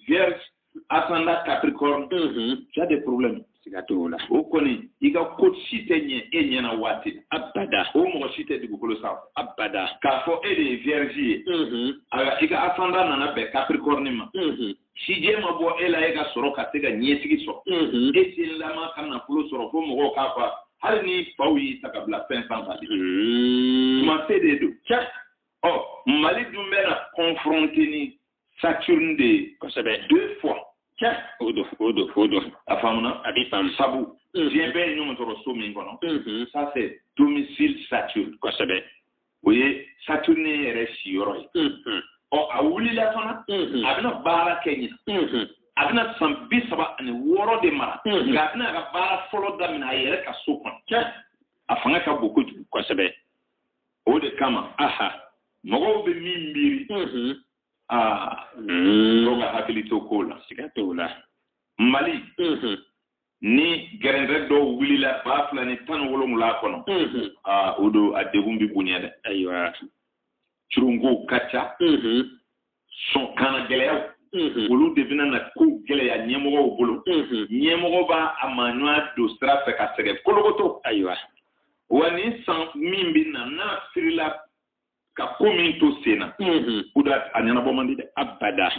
vierge ascendant capricorne. Unhun. Tu as des problèmes. Siga t'o la. O kɔni, i ka ko si tɛ ɲɛ e ɲɛna waati la. Abada. O mɔgɔ si tɛ dugukolo sanfɛ. Abada. K'a fɔ e de ye vierge ye. Unhun. Alors, i ka ascendant nana bɛn capricorne ma. Unhun. sijɛ ma bɔ e la e ka sɔrɔ ka se ka ɲɛsigi sɔrɔ e senlama ka nafolo sɔrɔ fo mɔgɔw ka fa hali n'i faw y'i ta ka bila fɛn sanfɛ de tuma se de don ɔ mali dun bɛna kɔnfɔrɔnte ni saturne de ye kosɛbɛ deux fois o don o don o don a faamuna a bɛ faamu sabu diɲɛ bɛɛ ye ɲɔgɔn sɔrɔ so min kɔnɔ ça c'est domicile saturne kosɛbɛ o ye saturne yɛrɛ siyɔrɔ ye ɔ a wulila fana a bɛna baara kɛ ɲina a bɛna san bi saba ani wɔɔrɔ de mara nka a bɛna a ka baara fɔlɔ daminɛ a yɛrɛ ka so kɔnɔ a fanga ka bon kojugu kosɛbɛ o de kama aha mɔgɔw bɛ min miiri aa dɔw ka hakili to kow la siga t'o la mali ni gɛrɛntɛ dɔw wulila ba fila ni tan wolonwula kɔnɔ aa o don a degun bɛ bonya dɛ ayiwa curunko ka ca sɔnkana gɛlɛyaw olu de bɛna na ko gɛlɛya ɲɛmɔgɔw bolo ɲɛmɔgɔ b'a a maaɲɔgɔn don sira fɛ ka sɛgɛn kolokoto ayiwa wa nin san min bɛ na n'a sirila ka ko min to sen na o de a ɲɛnabɔ man di dɛ abada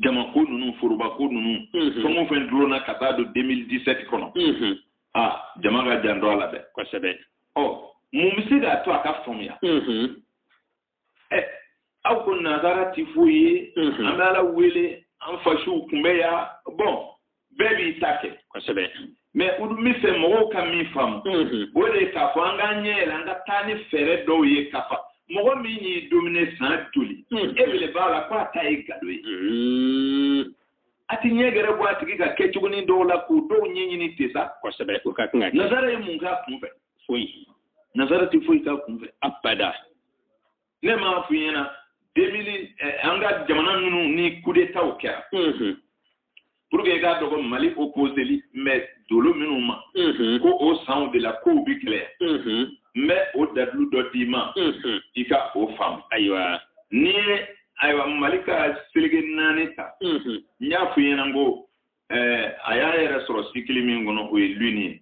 jamako ninnu forobako ninnu fɛn o fɛn dulonna ka taa don 2017 kɔnɔ a jama k'a janto a la dɛ kosɛbɛ ɔ mun bɛ se k'a to a ka faamuya ɛ aw ko nazara ti foyi ye an bɛ ala wele an fasuw kun bɛ yan bon bɛɛ b'i ta kɛ kosɛbɛ mais n dun b'a fɛ mɔgɔw ka min faamu o de ye k'a fɔ an k'an ɲɛ yɛlɛ an ka taa ni fɛɛrɛ dɔw ye k'a fɔ mɔgɔ min y'i domine san joli e bele b'a la ko a ta ye gado ye a ti ɲɛ gɛrɛ bɔ a tigi ka kɛcogonin dɔw la k'u dɔw ɲɛɲini te sa kosɛbɛ o ka kan nazara ye mun k'a kun fɛ foyi nazara ti foyi k'a kun fɛ abada ne m'a f'i ɲɛna 2000 eh, an ka jamana ninnu ni kudetaw kɛra pour que i k'a dɔn ko mali opposelen bɛ dolo minnu ma mhm. ko o sanw de la kow bi gɛlɛya mhm. n bɛ o dalilu dɔ d'i ma mhm. i ka o faamu ayiwa n'i ye ayiwa mali ka seleke naani ta n y'a fɔ i ɲɛna ko eh, a y'a yɛrɛ sɔrɔ cycle min kɔnɔ o ye lune ye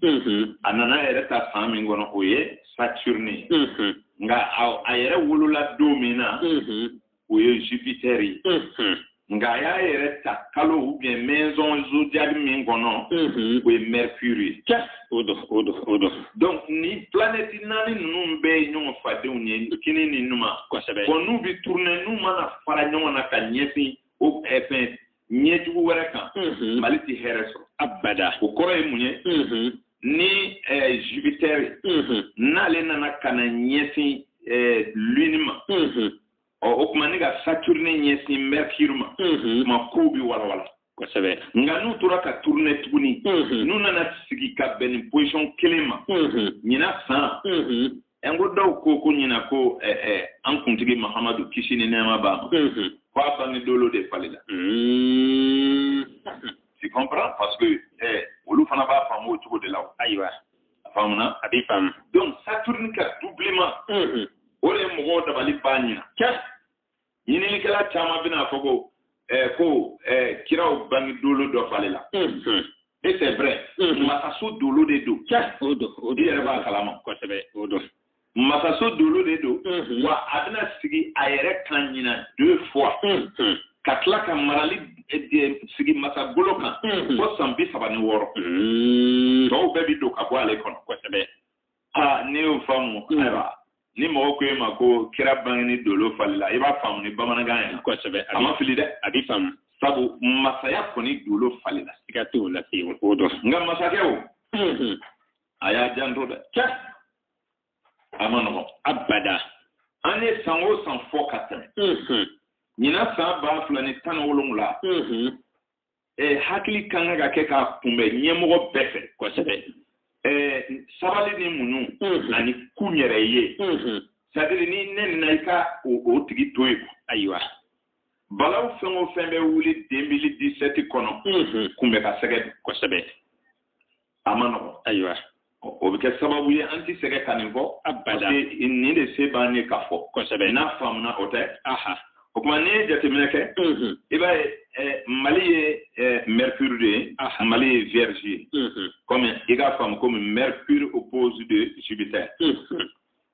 a nana yɛrɛ ta san min kɔnɔ o ye saturne ye nka a yɛrɛ wolola don min na o ye jupiter ye nka a y'a yɛrɛ ta kalo ou bien maison zodiaque min kɔnɔ o ye mercure ye o don donc ni planète naani ninnu bɛɛ ye ɲɔgɔn fadenw ye kini ni numa kosɛbɛ ko n'u bɛ tourner n'u mana fara ɲɔgɔn na ka ɲɛsin o fɛn ɲɛ jugu wɛrɛ kan mali tɛ hɛrɛ sɔrɔ abada o kɔrɔ ye mun ye ni eh, jupiter n'ale nana ka na ɲɛsin eh, lune ma ɔ o tuma ni ka saturne ɲɛsin mercure ma tuma kow bɛ walawala kosɛbɛ nka n'u tora ka tourner tuguni n'u nana sigi ka bɛn ni position kelen ma ɲinan san n ko dɔw ko ko ɲinan ko eh, eh, an kuntigi mahamadu kisi ni nɛɛma b'a ma mm-hmm. ko a bangeni dolo de falila mm-hmm. tu comprends parce que eh, olu fana b'a faamu o cogo de la ayiwa a faamuna a b'i faamu donc saturne ka doublement mm-hmm. o de ye mɔgɔw dabali ban ɲinan ɲininikɛla caman bɛna a fɔ ko eh, ko eh, kiraw bange dolo dɔ falila mhm. et c'est vrai mhm. masaso dolo de don i yɛrɛ b'a kalama kosɛbɛ o don masaso dolo de don mhm. wa a bɛna sigi a yɛrɛ kan ɲinan deux fois ka tila ka marali eh, sigi masa golo kan fo san bi saba ni wɔɔrɔ tɔw bɛɛ bi don ka bɔ ale kɔnɔ kosɛbɛ aa ne y'o faamu mm. ayiwa ni mɔgɔ ko e ma ko kira bangeni dolo falila i b'a faamu ni bamanankan ye kosɛbɛ a ma fili dɛ a b'i faamu sabu masaya kɔni dolo falila siga t'o la se o don nka masakɛw mm-hmm. a y'a janto dɛ cɛ a ma nɔgɔn abada an ye san o san fɔ ka tɛmɛ mm-hmm. ɲinan san ba fila ni tan ni wolonwula mm-hmm. eh, hakili ka kan ka kɛ k'a kunbɛn ɲɛmɔgɔ bɛɛ fɛ kosɛbɛ eh, sabali ni muɲu mhm. ani kun yɛrɛ ye mhm. c'est-à-dire n'i nɛnina i ka o tigi to yen ayiwa balaw fɛn o fɛn bɛ wuli deux mille dix-sept kɔnɔ mhm. kunbɛn ka sɛgɛ kosɛbɛ a ma nɔgɔn ayiwa o bɛ kɛ sababu ye an tɛ sɛgɛn ka nin fɔ abada nin de se b'an ye k'a fɔ kosɛbɛ n'a faamuna o tɛ o tuma n'i ye jateminɛ kɛ i b'a ye eh, mali ye eh, mercure de ye mali ye vierge ye comme i k'a faamu comme mercure opposé de jupiter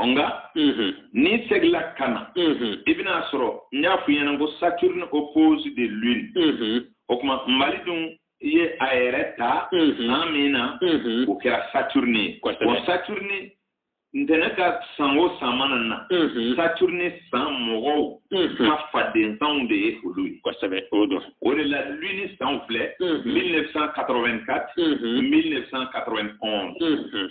o nka mhm. n'i segila ka na mhm. i bɛna a sɔrɔ n y'a f'i ɲɛna ko saturne opposé de lune mhm. o tuma mali dun ye a yɛrɛ ta san min na o kɛra saturne ye wa saturne ntɛnɛn ka san o san mana na saturne san mɔgɔw ka fadensanw de ye olu ye kosɛbɛ o don o de la lune sanw filɛ 1984 1991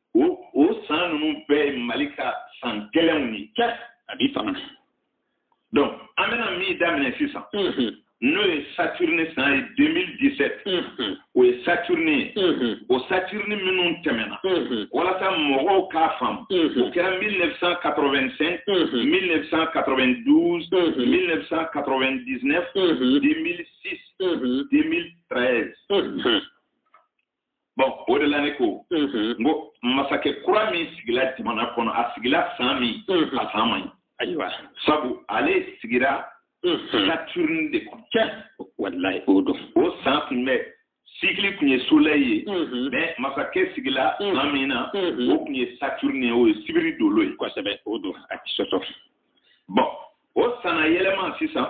o o san ninnu bɛɛ ye mali ka san gɛlɛnw ye kɛ a b'i faamu donc an bɛna min daminɛ sisan n'o ye saturne san ye 2017 o ye saturne ye o saturne minnu tɛmɛna walasa mɔgɔw k'a faamu o kɛra 1985 1992 1999 2006 2013 bɔn o de la ne ko n ko masakɛ kura min sigila jamana kɔnɔ a sigila san min a san man ɲi ayiwa sabu ale sigira saturne de kɔnɔ cɛ walayi o don o san tun bɛ cycle tun ye soleil ye mais masakɛ sigila san min na o tun ye saturne ye o ye sibiri dolo ye kosɛbɛ o don a ti sɔsɔ bɔn o san na yɛlɛma sisan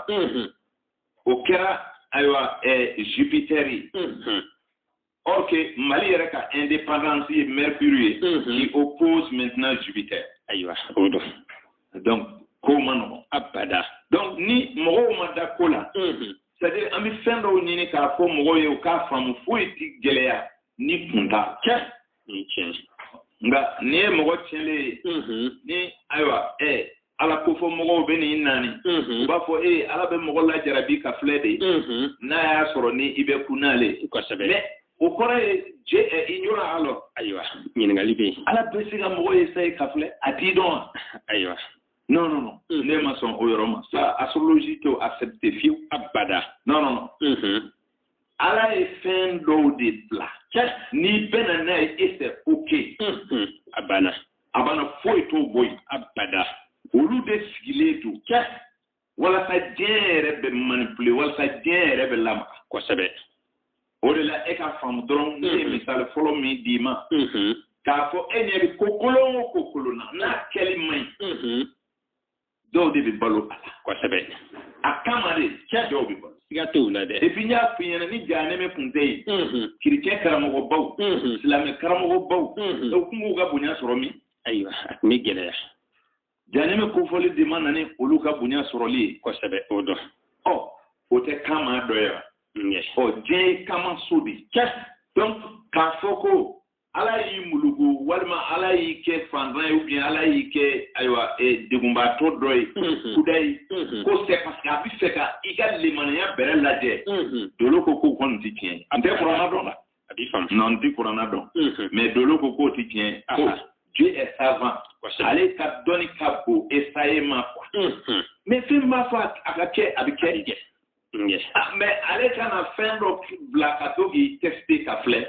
o kɛra ayiwa eh, jupiter ye mhm. or que mali yɛrɛ ka indépendance ye mercure ye mhm. qui oppose maintenant jupiter ayiwa o don donc ko man nɔgɔn abada donc ni mɔgɔw ma da ko la mhm. c'est à dire an bɛ fɛn dɔw ɲini k'a fɔ mɔgɔw ye u k'a faamu foyi ti gɛlɛya ni kun t'a la nka n'i ye mɔgɔ tiɲɛlen ye ni ayiwa ɛɛ ala kofɔ mɔgɔw bɛ n'i naani u b'a fɔ e ala bɛ mɔgɔ lajarabi ka filɛ de n'a y'a sɔrɔ ni i bɛ kun n'ale kosɛbɛ o kɔrɔ ye Dieu ignorant alors ayiwa ɲininkali bɛ yen ala bɛ se ka mɔgɔ essayer ka filɛ a t'i dɔn wa ayiwa non non non ne ma sɔn o yɔrɔ ma sa astrologie t'o accepter fiyewu abada non non non ala ye fɛn dɔw de bila n'i bɛnna n'a ye et c'est ok a banna a banna foyi t'o bɔ yen abada olu de sigilen don walasa diɲɛ yɛrɛ bɛ manipuler walasa diɲɛ yɛrɛ bɛ lamaga kosɛbɛ o de la e k'a faamu dɔrɔn ne ye mm-hmm. misali fɔlɔ min d'i ma mm-hmm. k'a fɔ e ɲɛ bɛ ko kolon o ko kolon na n'a kɛli man ɲi mm-hmm. dɔw de bɛ balo a la kosɛbɛ a kama de cɛ dɔw bɛ balo siga t'o la dɛ et puis n y'a f'i ɲɛna ni jahanɛmɛ kun tɛ yen mhm. kerecɛn karamɔgɔbaw mhm. silamɛ karamɔgɔbaw mhm. u kun b'u ka bonya sɔrɔ min ayiwa a tun bɛ gɛlɛya jahanɛmɛ kofɔli de ma na ni olu ka bonya sɔrɔli ye kosɛbɛ o don ɔ o tɛ kama dɔ ye wa ɔ diɲɛ ye kama so de ye donc k'a fɔ ko ala y'i muluku walima ala y'i kɛ fantan ye ou bien ala y'i kɛ ayiwa e, degunbaatɔ dɔ ye mhm. kudayi mhm. ko c'est parce que a b'a fɛ ka i ka limaniya bɛrɛ lajɛ mhm. dolo ko k'o kɔni tɛ tiɲɛ ye n tɛ kurana dɔn la a b'i faamu non n tɛ kurana dɔn mais dolo ko k'o tɛ tiɲɛ ye ko Dieu est savant ale ka dɔnni ka bon essayer ma quoi mais fɛn b'a fɔ a ka kɛ a bɛ kɛ Ah, mais ale kana fɛn dɔ bila ka to k'i tester ka filɛ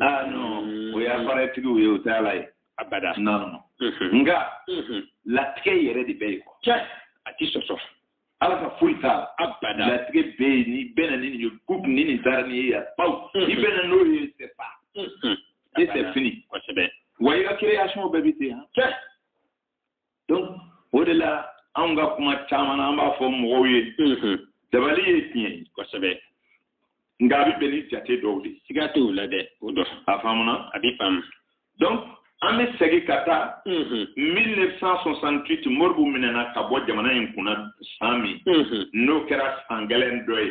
aa non o ye appareiltigiw ye o tɛ ala ye abada non nka latigɛ yɛrɛ de bɛ yen quoi a ti sɔsɔ ala ka foyi t'a la abada latigɛ bɛ yen n'i bɛ na ni nin ye gup ni nin taara ni ye yan paw i bɛ na n'o ye c'est pas e c'est fini kosɛbɛ wa i ka création bɛɛ bɛ ten yan donc o de la anw ka kuma caman na an b'a fɔ mɔgɔw ye dabali ye tiɲɛ ye kosɛbɛ nka a bɛ bɛn ni jate dɔw de ye siga t'o la dɛ o dɔ a faamuna a bɛ faamu donc an bɛ segin ka taa 1968 modibo minɛna ka bɔ jamana in kunna san min n'o kɛra san gɛlɛn dɔ ye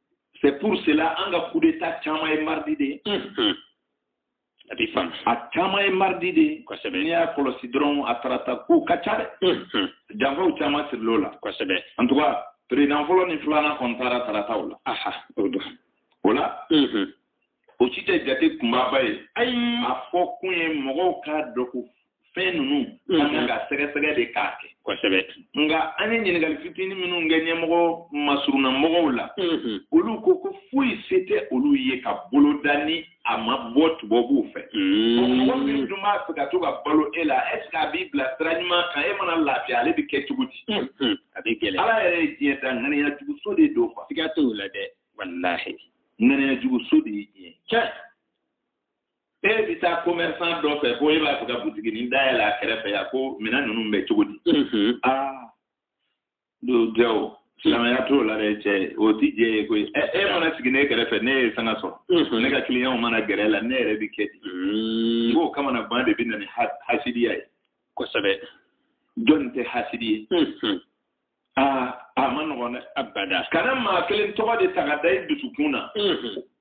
c'est pour cela an ka coup d'état caman ye mardi de ye mhm. a b'i faamu a caman ye mardi de ye kosɛbɛ n'i y'a kɔlɔsi dɔrɔn a tarata kow ka ca dɛ mhm. janfaw caman sirila o la kosɛbɛ en tout cas président fɔlɔ ni filanan kɔni taara tarataw la aha o don o la mhm. o si tɛ jate kunbaba ye ayi a fɔ kun ye mɔgɔw k'a dɔn ko fɛn ninnu mm-hmm. an kan ka sɛgɛsɛgɛ de k'a kɛ kosɛbɛ nka an ye ɲininkali fitinin minnu kɛ ɲɛmɔgɔ masurunna mɔgɔw la mm-hmm. olu ko ko foyi se tɛ olu ye ka boloda ni a ma bɔ tubabuw fɛ mm-hmm. mɔgɔ min dun b'a fɛ ka to ka balo e la est ce que a b'i bila sira ɲuman kan e mana lafiya ale bɛ kɛ cogo di a bɛ gɛlɛya ala yɛrɛ ye diɲɛ da ŋaniya juguso de don quoi siga t'o la dɛ walahi ŋaniya juguso de ye diɲɛ cɛ e bɛ taa commerçant dɔ fɛ ko e b'a fɛ ka butiginin dayɛlɛ a kɛrɛfɛ yan ko minɛn ninnu bɛ cogo di aa don jɛ o silamɛya t'o la dɛ cɛ o ti diɲɛ ye koyi ɛ e mana sigi ne kɛrɛfɛ ne ye sanga sɔrɔ ne ka clientw mana gɛrɛ e la ne yɛrɛ bi kɛ di n k'o kamanagan de bɛ na ni hasidiya ye kosɛbɛ jɔnni tɛ hasidi ye aa a ma nɔgɔn dɛ abada kana maa kelen tɔgɔ de ta ka da i dusukun na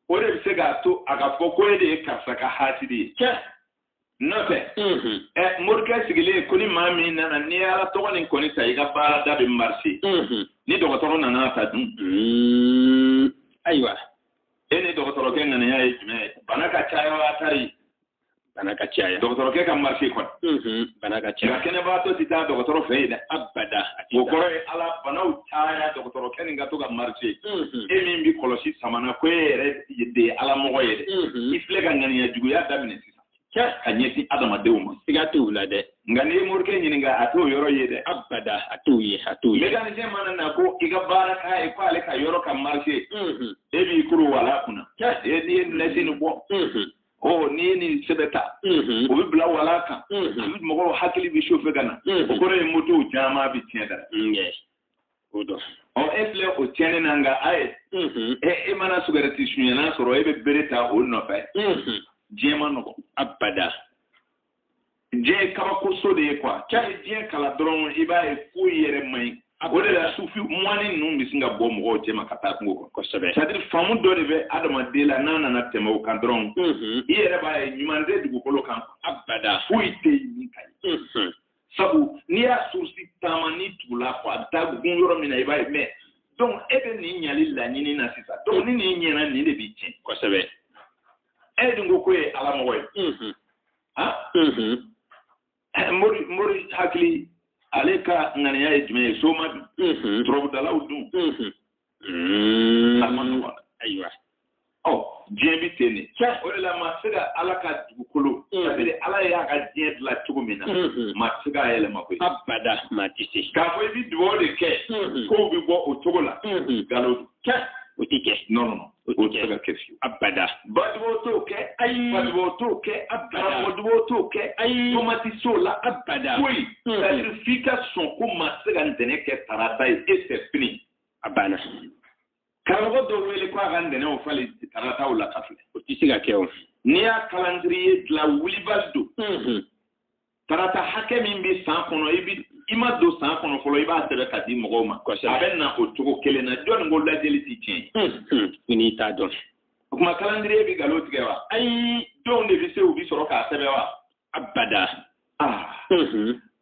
o de bɛ se k'a to a ka fɔ ko e de ye karisa ka hasidi ye cɛ n'o tɛ ɛ morikɛ sigilen ko ni maa min nana n'i ye ala tɔgɔ nin kɔni ta i ka baarada bɛ marché ni dɔgɔtɔrɔ nana ta dun ayiwa e ni dɔgɔtɔrɔkɛ ŋaniya ye jumɛn ye bana ka caya wa tari bana ka caya dɔgɔtɔrɔkɛ ka marché kɔni mm-hmm. bana ka caya kɛnɛbaatɔ tɛ taa dɔgɔtɔrɔ fɛ yen dɛ abada o kɔrɔ ye ala banaw caya dɔgɔtɔrɔkɛ nin ka to ka marché mm-hmm. e min bɛ kɔlɔsi sama na ko e yɛrɛ de ye ala mɔgɔ ye dɛ mm-hmm. i filɛ ka ŋaniya juguya daminɛ sisan ka ɲɛsin adamadenw ma siga t'o la dɛ nka n'i ye morikɛ ɲininka a t'o yɔrɔ ye dɛ abada a t'o ye a t'o ye mécanicien mana na ko i ka baara k'a ye ko ale ka yɔrɔ ka marché e b'i kuru wala kunna e n'i ye nasi nin bɔ ɔ n'i ye nin sɛbɛn ta o bɛ bila walan kan mɔgɔw hakili bɛ chauffer ka na o kɔrɔ ye motow caman bɛ tiɲɛ dara o don ɔ e filɛ o tiɲɛni na nka a ye e mana sigarɛti sunyana sɔrɔ e bɛ bere ta o nɔfɛ diɲɛ man nɔgɔn abada diɲɛ ye kabakoso de ye quoi cɛ ye diɲɛ kalan dɔrɔn i b'a ye foyi yɛrɛ man ɲi o de la sufi moine ninnu bɛ sin ka bɔ mɔgɔw cɛma ka taa kungo kɔnɔ kosɛbɛ c'est-à-dire faamu dɔ de bɛ adamaden la n'a nana tɛmɛ o kan dɔrɔn mhm. i yɛrɛ b'a ye ɲuman tɛ dugukolo kan abada foyi tɛ yen min ka ɲi mhm. sabu n'i y'a source taama n'i tugula fɔ a taa kun yɔrɔ min na i b'a ye mais donc e bɛ nin ɲali laɲini na sisan donc ni nin ɲɛna nin de b'i tiɲɛ kosɛbɛ e dun ko ko ye ala mɔgɔ ye mhm. han mori mori hakili ale ka ŋaniya ye jumɛn ye soma dun turabudalaw dun a man nɔgɔn ayiwa ɔ diɲɛ bi ten de o de la maa tɛ se ka ala ka dugukolo c'est-à-dire ala y'a ka diɲɛ dilan cogo min na maa tɛ se k'a yɛlɛma koyi abada maa tɛ se k'a fɔ i bi dugawu de kɛ k'o bi bɔ o cogo la nkalon o tɛ kɛ non non o tɛ se ka kɛ fiyewu abada badubaw t'o kɛ ayi badubaw t'o kɛ abada karamɔgɔdubaw t'o kɛ ayi to maa ti s'o la abada foyi c'est-à-dire f'i ka sɔn ko maa tɛ se ka ntɛnɛn kɛ tarata ye e fɛ fini a banna karamɔgɔ dɔw wele ko a ka ntɛnɛnw falen tarataw la ka filɛ o tɛ se ka kɛ o n'i y'a calendrier dilan wulibali don tarata hakɛ min bɛ san kɔnɔ i bɛ i ma don san kɔnɔ fɔlɔ i b'a sɛbɛn ka di mɔgɔw ma a bɛ na o cogo kelen na jɔnni ko lajɛli tɛ tiɲɛ ye n'i t'a dɔn o tuma calendrier bɛ nkalon tigɛ wa ayi donw de bɛ se u bɛ sɔrɔ k'a sɛbɛn wa abada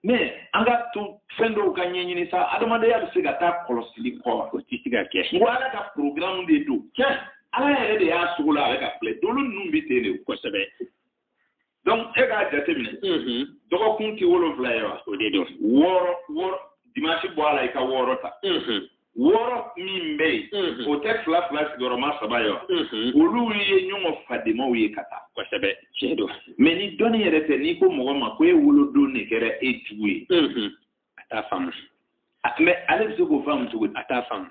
mais an ka to fɛn dɔw ka ɲɛɲini sa adamadenya bɛ se ka taa kɔlɔsili kɔ o tɛ se ka kɛ n ko ala ka porogaramu de don ala yɛrɛ de y'a sogolon a bɛ ka filɛ dolo ninnu bɛ ten de kosɛbɛ donc e k'a jateminɛ mm-hmm. dɔgɔkun tɛ wolonfila ye wa o de don wɔɔrɔ wɔɔrɔ dimansi bɔ a la i ka wɔɔrɔ ta mm-hmm. wɔɔrɔ min bɛ yen mm-hmm. o tɛ fila fila sigiyɔrɔma saba ye wa olu ye ɲɔgɔn fadenmaw ye ka taa kosɛbɛ tiɲɛ don mais ni dɔnni yɛrɛ tɛ n'i ko mɔgɔ ma ko e wolodon de kɛra e jugu ye a t'a faamu mais ale bɛ se k'o faamu cogo di a t'a faamu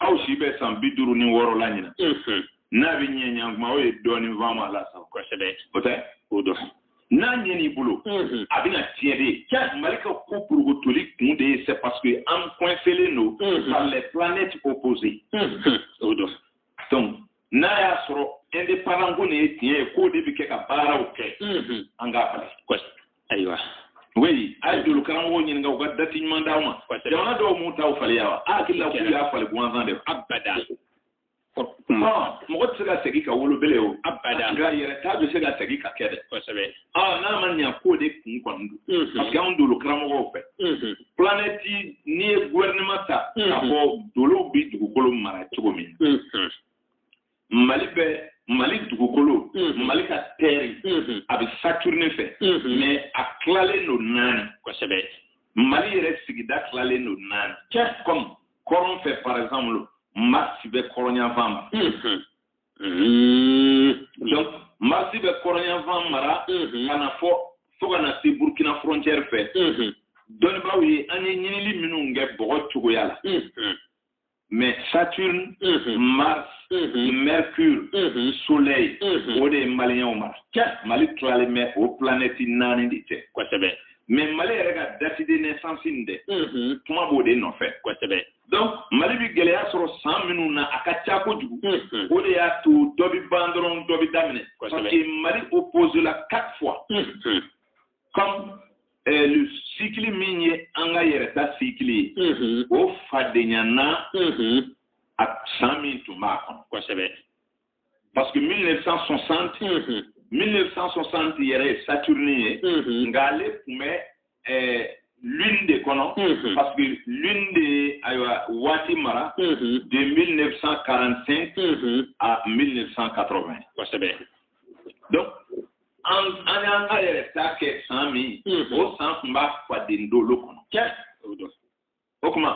aw si bɛ san bi duuru ni wɔɔrɔ la ɲinan n'a bɛ ɲɛ ɲan kuma o ye dɔɔnin faamu a la sa kosɛbɛ o tɛ o don n'a ɲɛn'i bolo a bɛna tiɲɛ de ye ja mali ka ko burugutoli kun de ye c'est parce que an coincelen don par les planètes opposées o don donc n'a y'a sɔrɔ indépendance ko nin ye tiɲɛ ye k'o de bɛ kɛ ka baaraw kɛ an k'a falen ayiwa oui a ye dolo karamɔgɔw ɲininka u ka dati ɲuman d'aw ma jamana dɔw m'u taw falen wa a hakili la k'u y'a falen gansan de abada mɔgɔ tɛ se ka segin ka wolo bilen o abada nka yɛrɛta bɛ se ka segin ka kɛ dɛ kosɛbɛ n'a ma ɲa k'o de kun kɔni don parce que anw dolo karamɔgɔw fɛ planɛti n'i ye gouvernement ta k'a fɔ dolow bɛ dugukolo mara cogo min mali bɛ mali dugukolo mali ka terre a bɛ saturne fɛ mais a tilalen don naani kosɛbɛ mali yɛrɛ sigida tilalen don naani comme kɔrɔn fɛ par exemple mars bɛ kɔrɔnyanfan ma Hmm. donc mars bɛ kɔrɔnyanfan mara hmm. ka na fɔ fo ka na se burkina frontière fɛ hmm. dɔnnibaaw ye an ye ɲinili minnu kɛ bɔgɔ cogoya la mais saturne mars mercure soleil o de ye maliyɛnw mara mali tilalen bɛ o planɛti naani de cɛ kosɛbɛ mais mali yɛrɛ ka date de naissance nin dɛ kuma b'o de nɔfɛ kosɛbɛ donc mali bi gɛlɛya sɔrɔ san minnu na a ka ca kojugu mm-hmm. o de y'a to dɔ bi ban dɔrɔn dɔ bi daminɛ parce que mali oppose la quatre fois mm-hmm. comme euh, le cycle min ye an ka yɛrɛta cycle ye mm-hmm. o fadenyana a san min tun b'a kɔnɔ kosɛbɛ parce que 1960 1960 yɛrɛ ye saturne ye nka ale tun bɛ eh, lune de kɔnɔ parce que lune de ye ayiwa waati mara de 1945 à 1980 kosɛbɛ donc an an y'an ka yɛrɛta kɛ san min o san tun b'a faden dolo kɔnɔ o tuma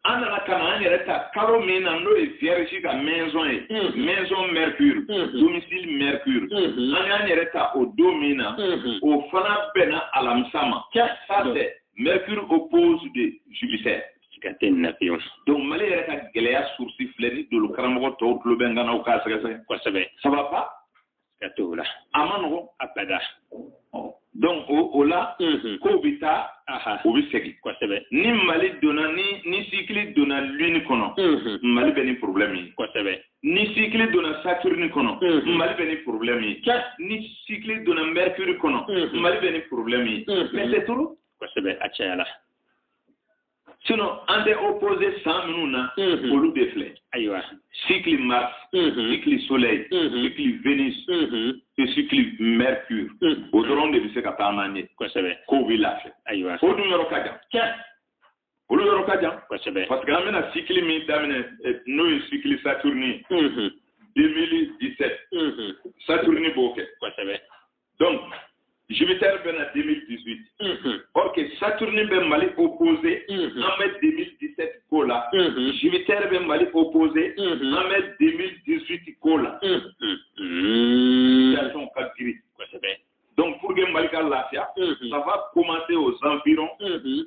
an nana ka na an yɛrɛ ta kalo min na n'o ye vierge ka maison ye maison mercure domicile mercure an y'an yɛrɛ ta o don min na o fana bɛnna alamisa ma ça c'est mercure oppose de jupiter ka tɛ nin na fiyewu donc mali yɛrɛ ka gɛlɛya source filɛ ni dolo karamɔgɔ tɔw tulo bɛ n kan na u k'a sɛgɛsɛgɛ kosɛbɛ sababa ka t'o la a man nɔgɔn abada donc o la mhm. kow bɛ taa u bɛ segin kosɛbɛ ni mali donna ni ni cycle donna lune kɔnɔ mhm. mali bɛ ni problème ye kosɛbɛ ni cycle donna saturne kɔnɔ mhm. mali bɛ ni problème ye ni cycle donna mercure kɔnɔ mali bɛ ni problème ye mais c'est trop kosɛbɛ a cayala sinon an tɛ opposé san minnu na mhm. olu de filɛ ayiwa cycle mars mhm. cycle soleil mhm. cycle vénus et cycle mercure o dɔrɔn de bɛ se ka taama ɲɛ kosɛbɛ kow bɛ lafiya ayiwa o dun yɔrɔ ka jan tiɲɛ olu yɔrɔ ka jan kosɛbɛ parce que an bɛna cycle min daminɛ eh, n'o ye cycle saturne ye 2017 saturne b'o kɛ kosɛbɛ donc Jupiter bɛ na 2018 unhun or que Saturne bɛ Mali opposé unhun an bɛ 2017 ko la unhun Jupiter bɛ Mali opposé unhun an bɛ 2018 ko la unhun situation ka girin kosɛbɛ donc pour que Mali ka lafiya unhun ça va commencer aux environs unhun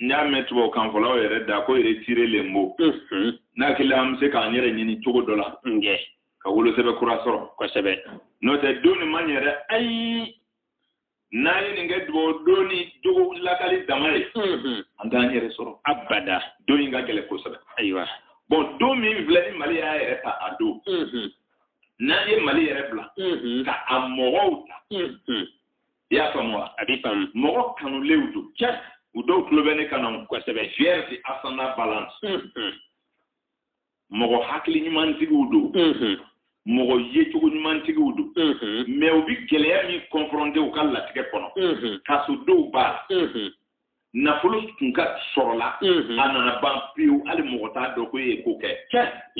n y'a mɛn tubabu kan fɔlaw yɛrɛ da ko retirer les mots n'a kɛla an bɛ se k'an yɛrɛ ɲini cogo dɔ la ka wolosɛbɛ kura sɔrɔ kosɛbɛ n'o tɛ don nin ma ɲɛ dɛ ayi n'an ye nin kɛ dugawu don ni jogo lakali dama ye an t'an yɛrɛ sɔrɔ abada don in ka gɛlɛn kosɛbɛ ayiwa bon don min filɛ nin mali y'a yɛrɛ ta a don n'an ye mali yɛrɛ bila ka a mɔgɔw ta i y'a faamu wa a b'i faamu mɔgɔ kanulenw don tiɲɛ u dɔw tulo bɛ ne kan na kosɛbɛ vierge ascendant balance mɔgɔ hakili ɲumantigiw don mɔgɔ yecogo ɲumantigiw don mais u bɛ gɛlɛya min confronté u ka latigɛ kɔnɔ kaso dɔw b'a la nafolo tun ka sɔrɔla a nana ban pewu hali mɔgɔ t'a dɔn ko e ye ko kɛ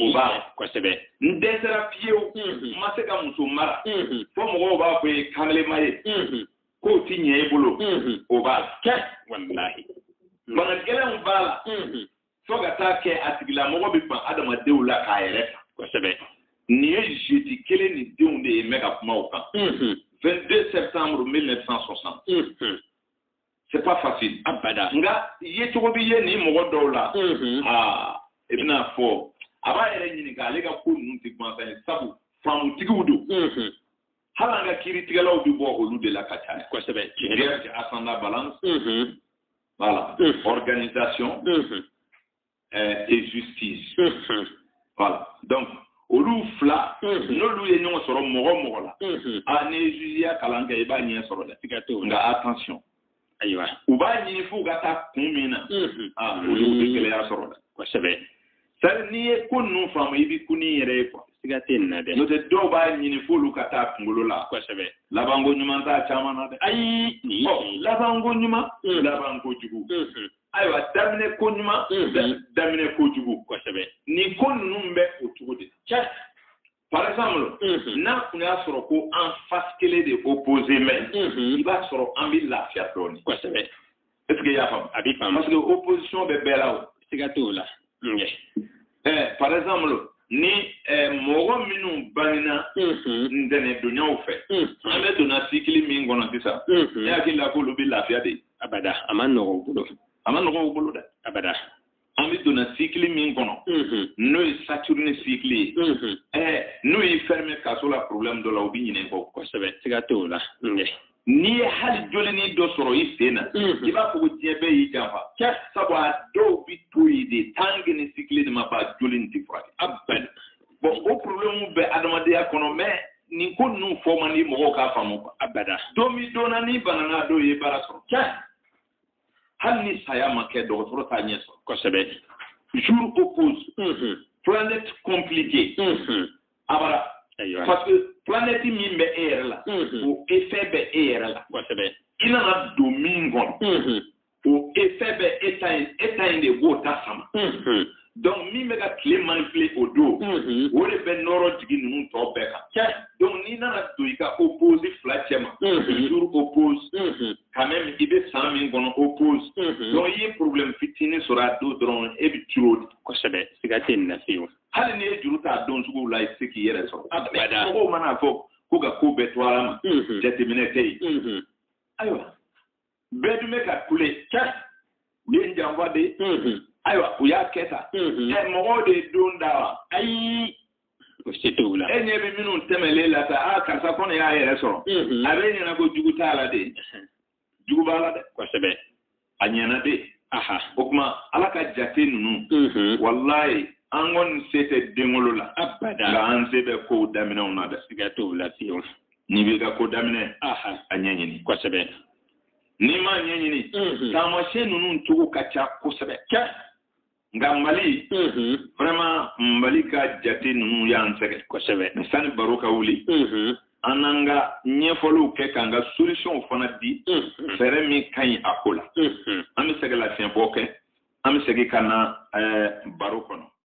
o b'a kosɛbɛ n dɛsɛra fiyewu n ma se ka muso mara fo mɔgɔw b'a fɔ ye kanlema ye ko tɛ ɲɛ i bolo o b'a la kɛ walahi bana gɛlɛnw b'a la fo ka taa kɛ a tigilamɔgɔ bɛ ban adamadenw la k'a yɛrɛ ta kosɛbɛ nin ye jeudi kelen nin denw de ye n bɛ ka kuma o kan 22 septembre 1960 c'est pas facile abada nka yecogo bɛ ye nin mɔgɔ dɔw la mm-hmm. ah e bɛna fɔ a b'a yɛrɛ ɲininka ale ka ko ninnu tɛ gansan ye sabu faamutigiw don mm-hmm. hali an ka kiiritigɛlaw bɛ bɔ olu de la ka caya kosɛbɛ vierge ascendant balance mm-hmm. voilà organisation euh, et justice. Mm-hmm. Voilà. Donc, olu fila mm-hmm. n'olu ye ɲɔgɔn sɔrɔ mɔgɔ mɔgɔ la mm-hmm. a ah, n'i ye jugeya kalan kɛ i b'a ɲɛ sɔrɔ dɛ nka attention ayiwa u b'a ɲini f'u ka taa kun min na aa olu bɛ gɛlɛya sɔrɔ dɛ kosɛbɛ sari n'i ye ko ninnu faamu i bɛ kun i yɛrɛ ye quoi siga tɛ nin na dɛ n'o tɛ dɔw b'a ɲini f'olu ka taa kunkolo la kosɛbɛ labanko ɲuman t'a caman na dɛ ayi ɔ labanko ɲuman labanko jugu ayiwa daminɛ ko ɲuman daminɛ ko jugu kosɛbɛ nin ko ninnu bɛ o cogo de la par exemple n'a tun y'a sɔrɔ ko en face kelen de opposé mais i b'a sɔrɔ an bɛ lafiya dɔɔnin kosɛbɛ est ce que i y'a faamu a bɛ faamu parce que opposition bɛ bɛɛ la o siga t'o la eh, par exemple ni eh, mɔgɔ minnu bangena mhm. ntɛnɛdonyaw fɛ mhm. an bɛ donna sikili min kɔnɔ sisan mhm. i hakili la k'olu bɛ lafiya de abada a ma nɔgɔ u bolo a ma nɔgɔ u bolo dɛ abada an bɛ donna sikili min kɔnɔ n'o ye saturne sikili ye eh, n'u y'i fɛrɛmɛ kaso la problème dɔ la u bɛ ɲinɛ i kɔ kosɛbɛ siga t'o la n'i ye hali jolinin dɔ sɔrɔ i sen na i b'a fɔ ko diɲɛ bɛɛ y'i janfa sabu a dɔw bɛ to yen de tant que ni sikili de ma ban joli nin tɛ furakɛ a bɛn bon o problème bɛ adamadenya kɔnɔ mais nin ko ninnu fɔ man di mɔgɔw k'a faamu abada don min don na n'i banana dɔw ye baara sɔrɔ hali ni saya ma kɛ dɔgɔtɔrɔ t'a ɲɛ sɔrɔ kosɛbɛ jour opposé mhm. planète compliquée mhm. abada parce que planète min bɛ e yɛrɛ la mhm. o effet bɛ e yɛrɛ la kosɛbɛ i nana don min kɔnɔ o effet bɛ e ta in e ta in de b'o ta sama donc min bɛ ka tile manipuler o don mm-hmm. o de bɛ nɔrɔ jigi ninnu tɔ bɛɛ kan donc n'i nana don i ka opposé fila cɛma mm-hmm. toujours opposé mm-hmm. quand même i bɛ san min kɔnɔ opposé donc i ye problème fitinin sɔrɔ a don dɔrɔn e bɛ tɔɔrɔ de kosɛbɛ siga tɛ nin na fiyewu hali n'i ye juru t'a don suguw la i tɛ se k'i yɛrɛ sɔrɔ mɔgɔw mana fɔ ko ka ko bɛɛ to ala ma jateminɛ tɛ yen ayiwa bɛɛ dun bɛ ka kule u ye n janfa de ayiwa u y'a kɛ tan ɛ mɔgɔw de ye don da wa ayi o se t'u la e ɲɛ bɛ minnu tɛmɛlen la sa aa karisa kɔni y'a yɛrɛ sɔrɔ a b'i ɲɛ na ko jugu t'a la de jugu b'a la dɛ kosɛbɛ a ɲɛna de o tuma ala ka jate ninnu walayi an kɔni se tɛ denwolo la nka an se bɛ kow daminɛw na dɛ siga t'o la fiyewu n'i b'i ka ko daminɛ a ɲɛɲini kosɛbɛ n'i m'a ɲɛɲini mhm. taamasiyɛn ninnu cogo ka ca kosɛbɛ nka mali mhm. vraiment mali ka jate ninnu y'an sɛgɛn kosɛbɛ sani baro ka wuli mhm. an n'an ka ɲɛfɔliw kɛ k'an ka solutionw fana di fɛɛrɛ min ka ɲi a ko la an bɛ sɛgɛn lafiɲɛbɔ kɛ an bɛ segin ka na eh, baro kɔnɔ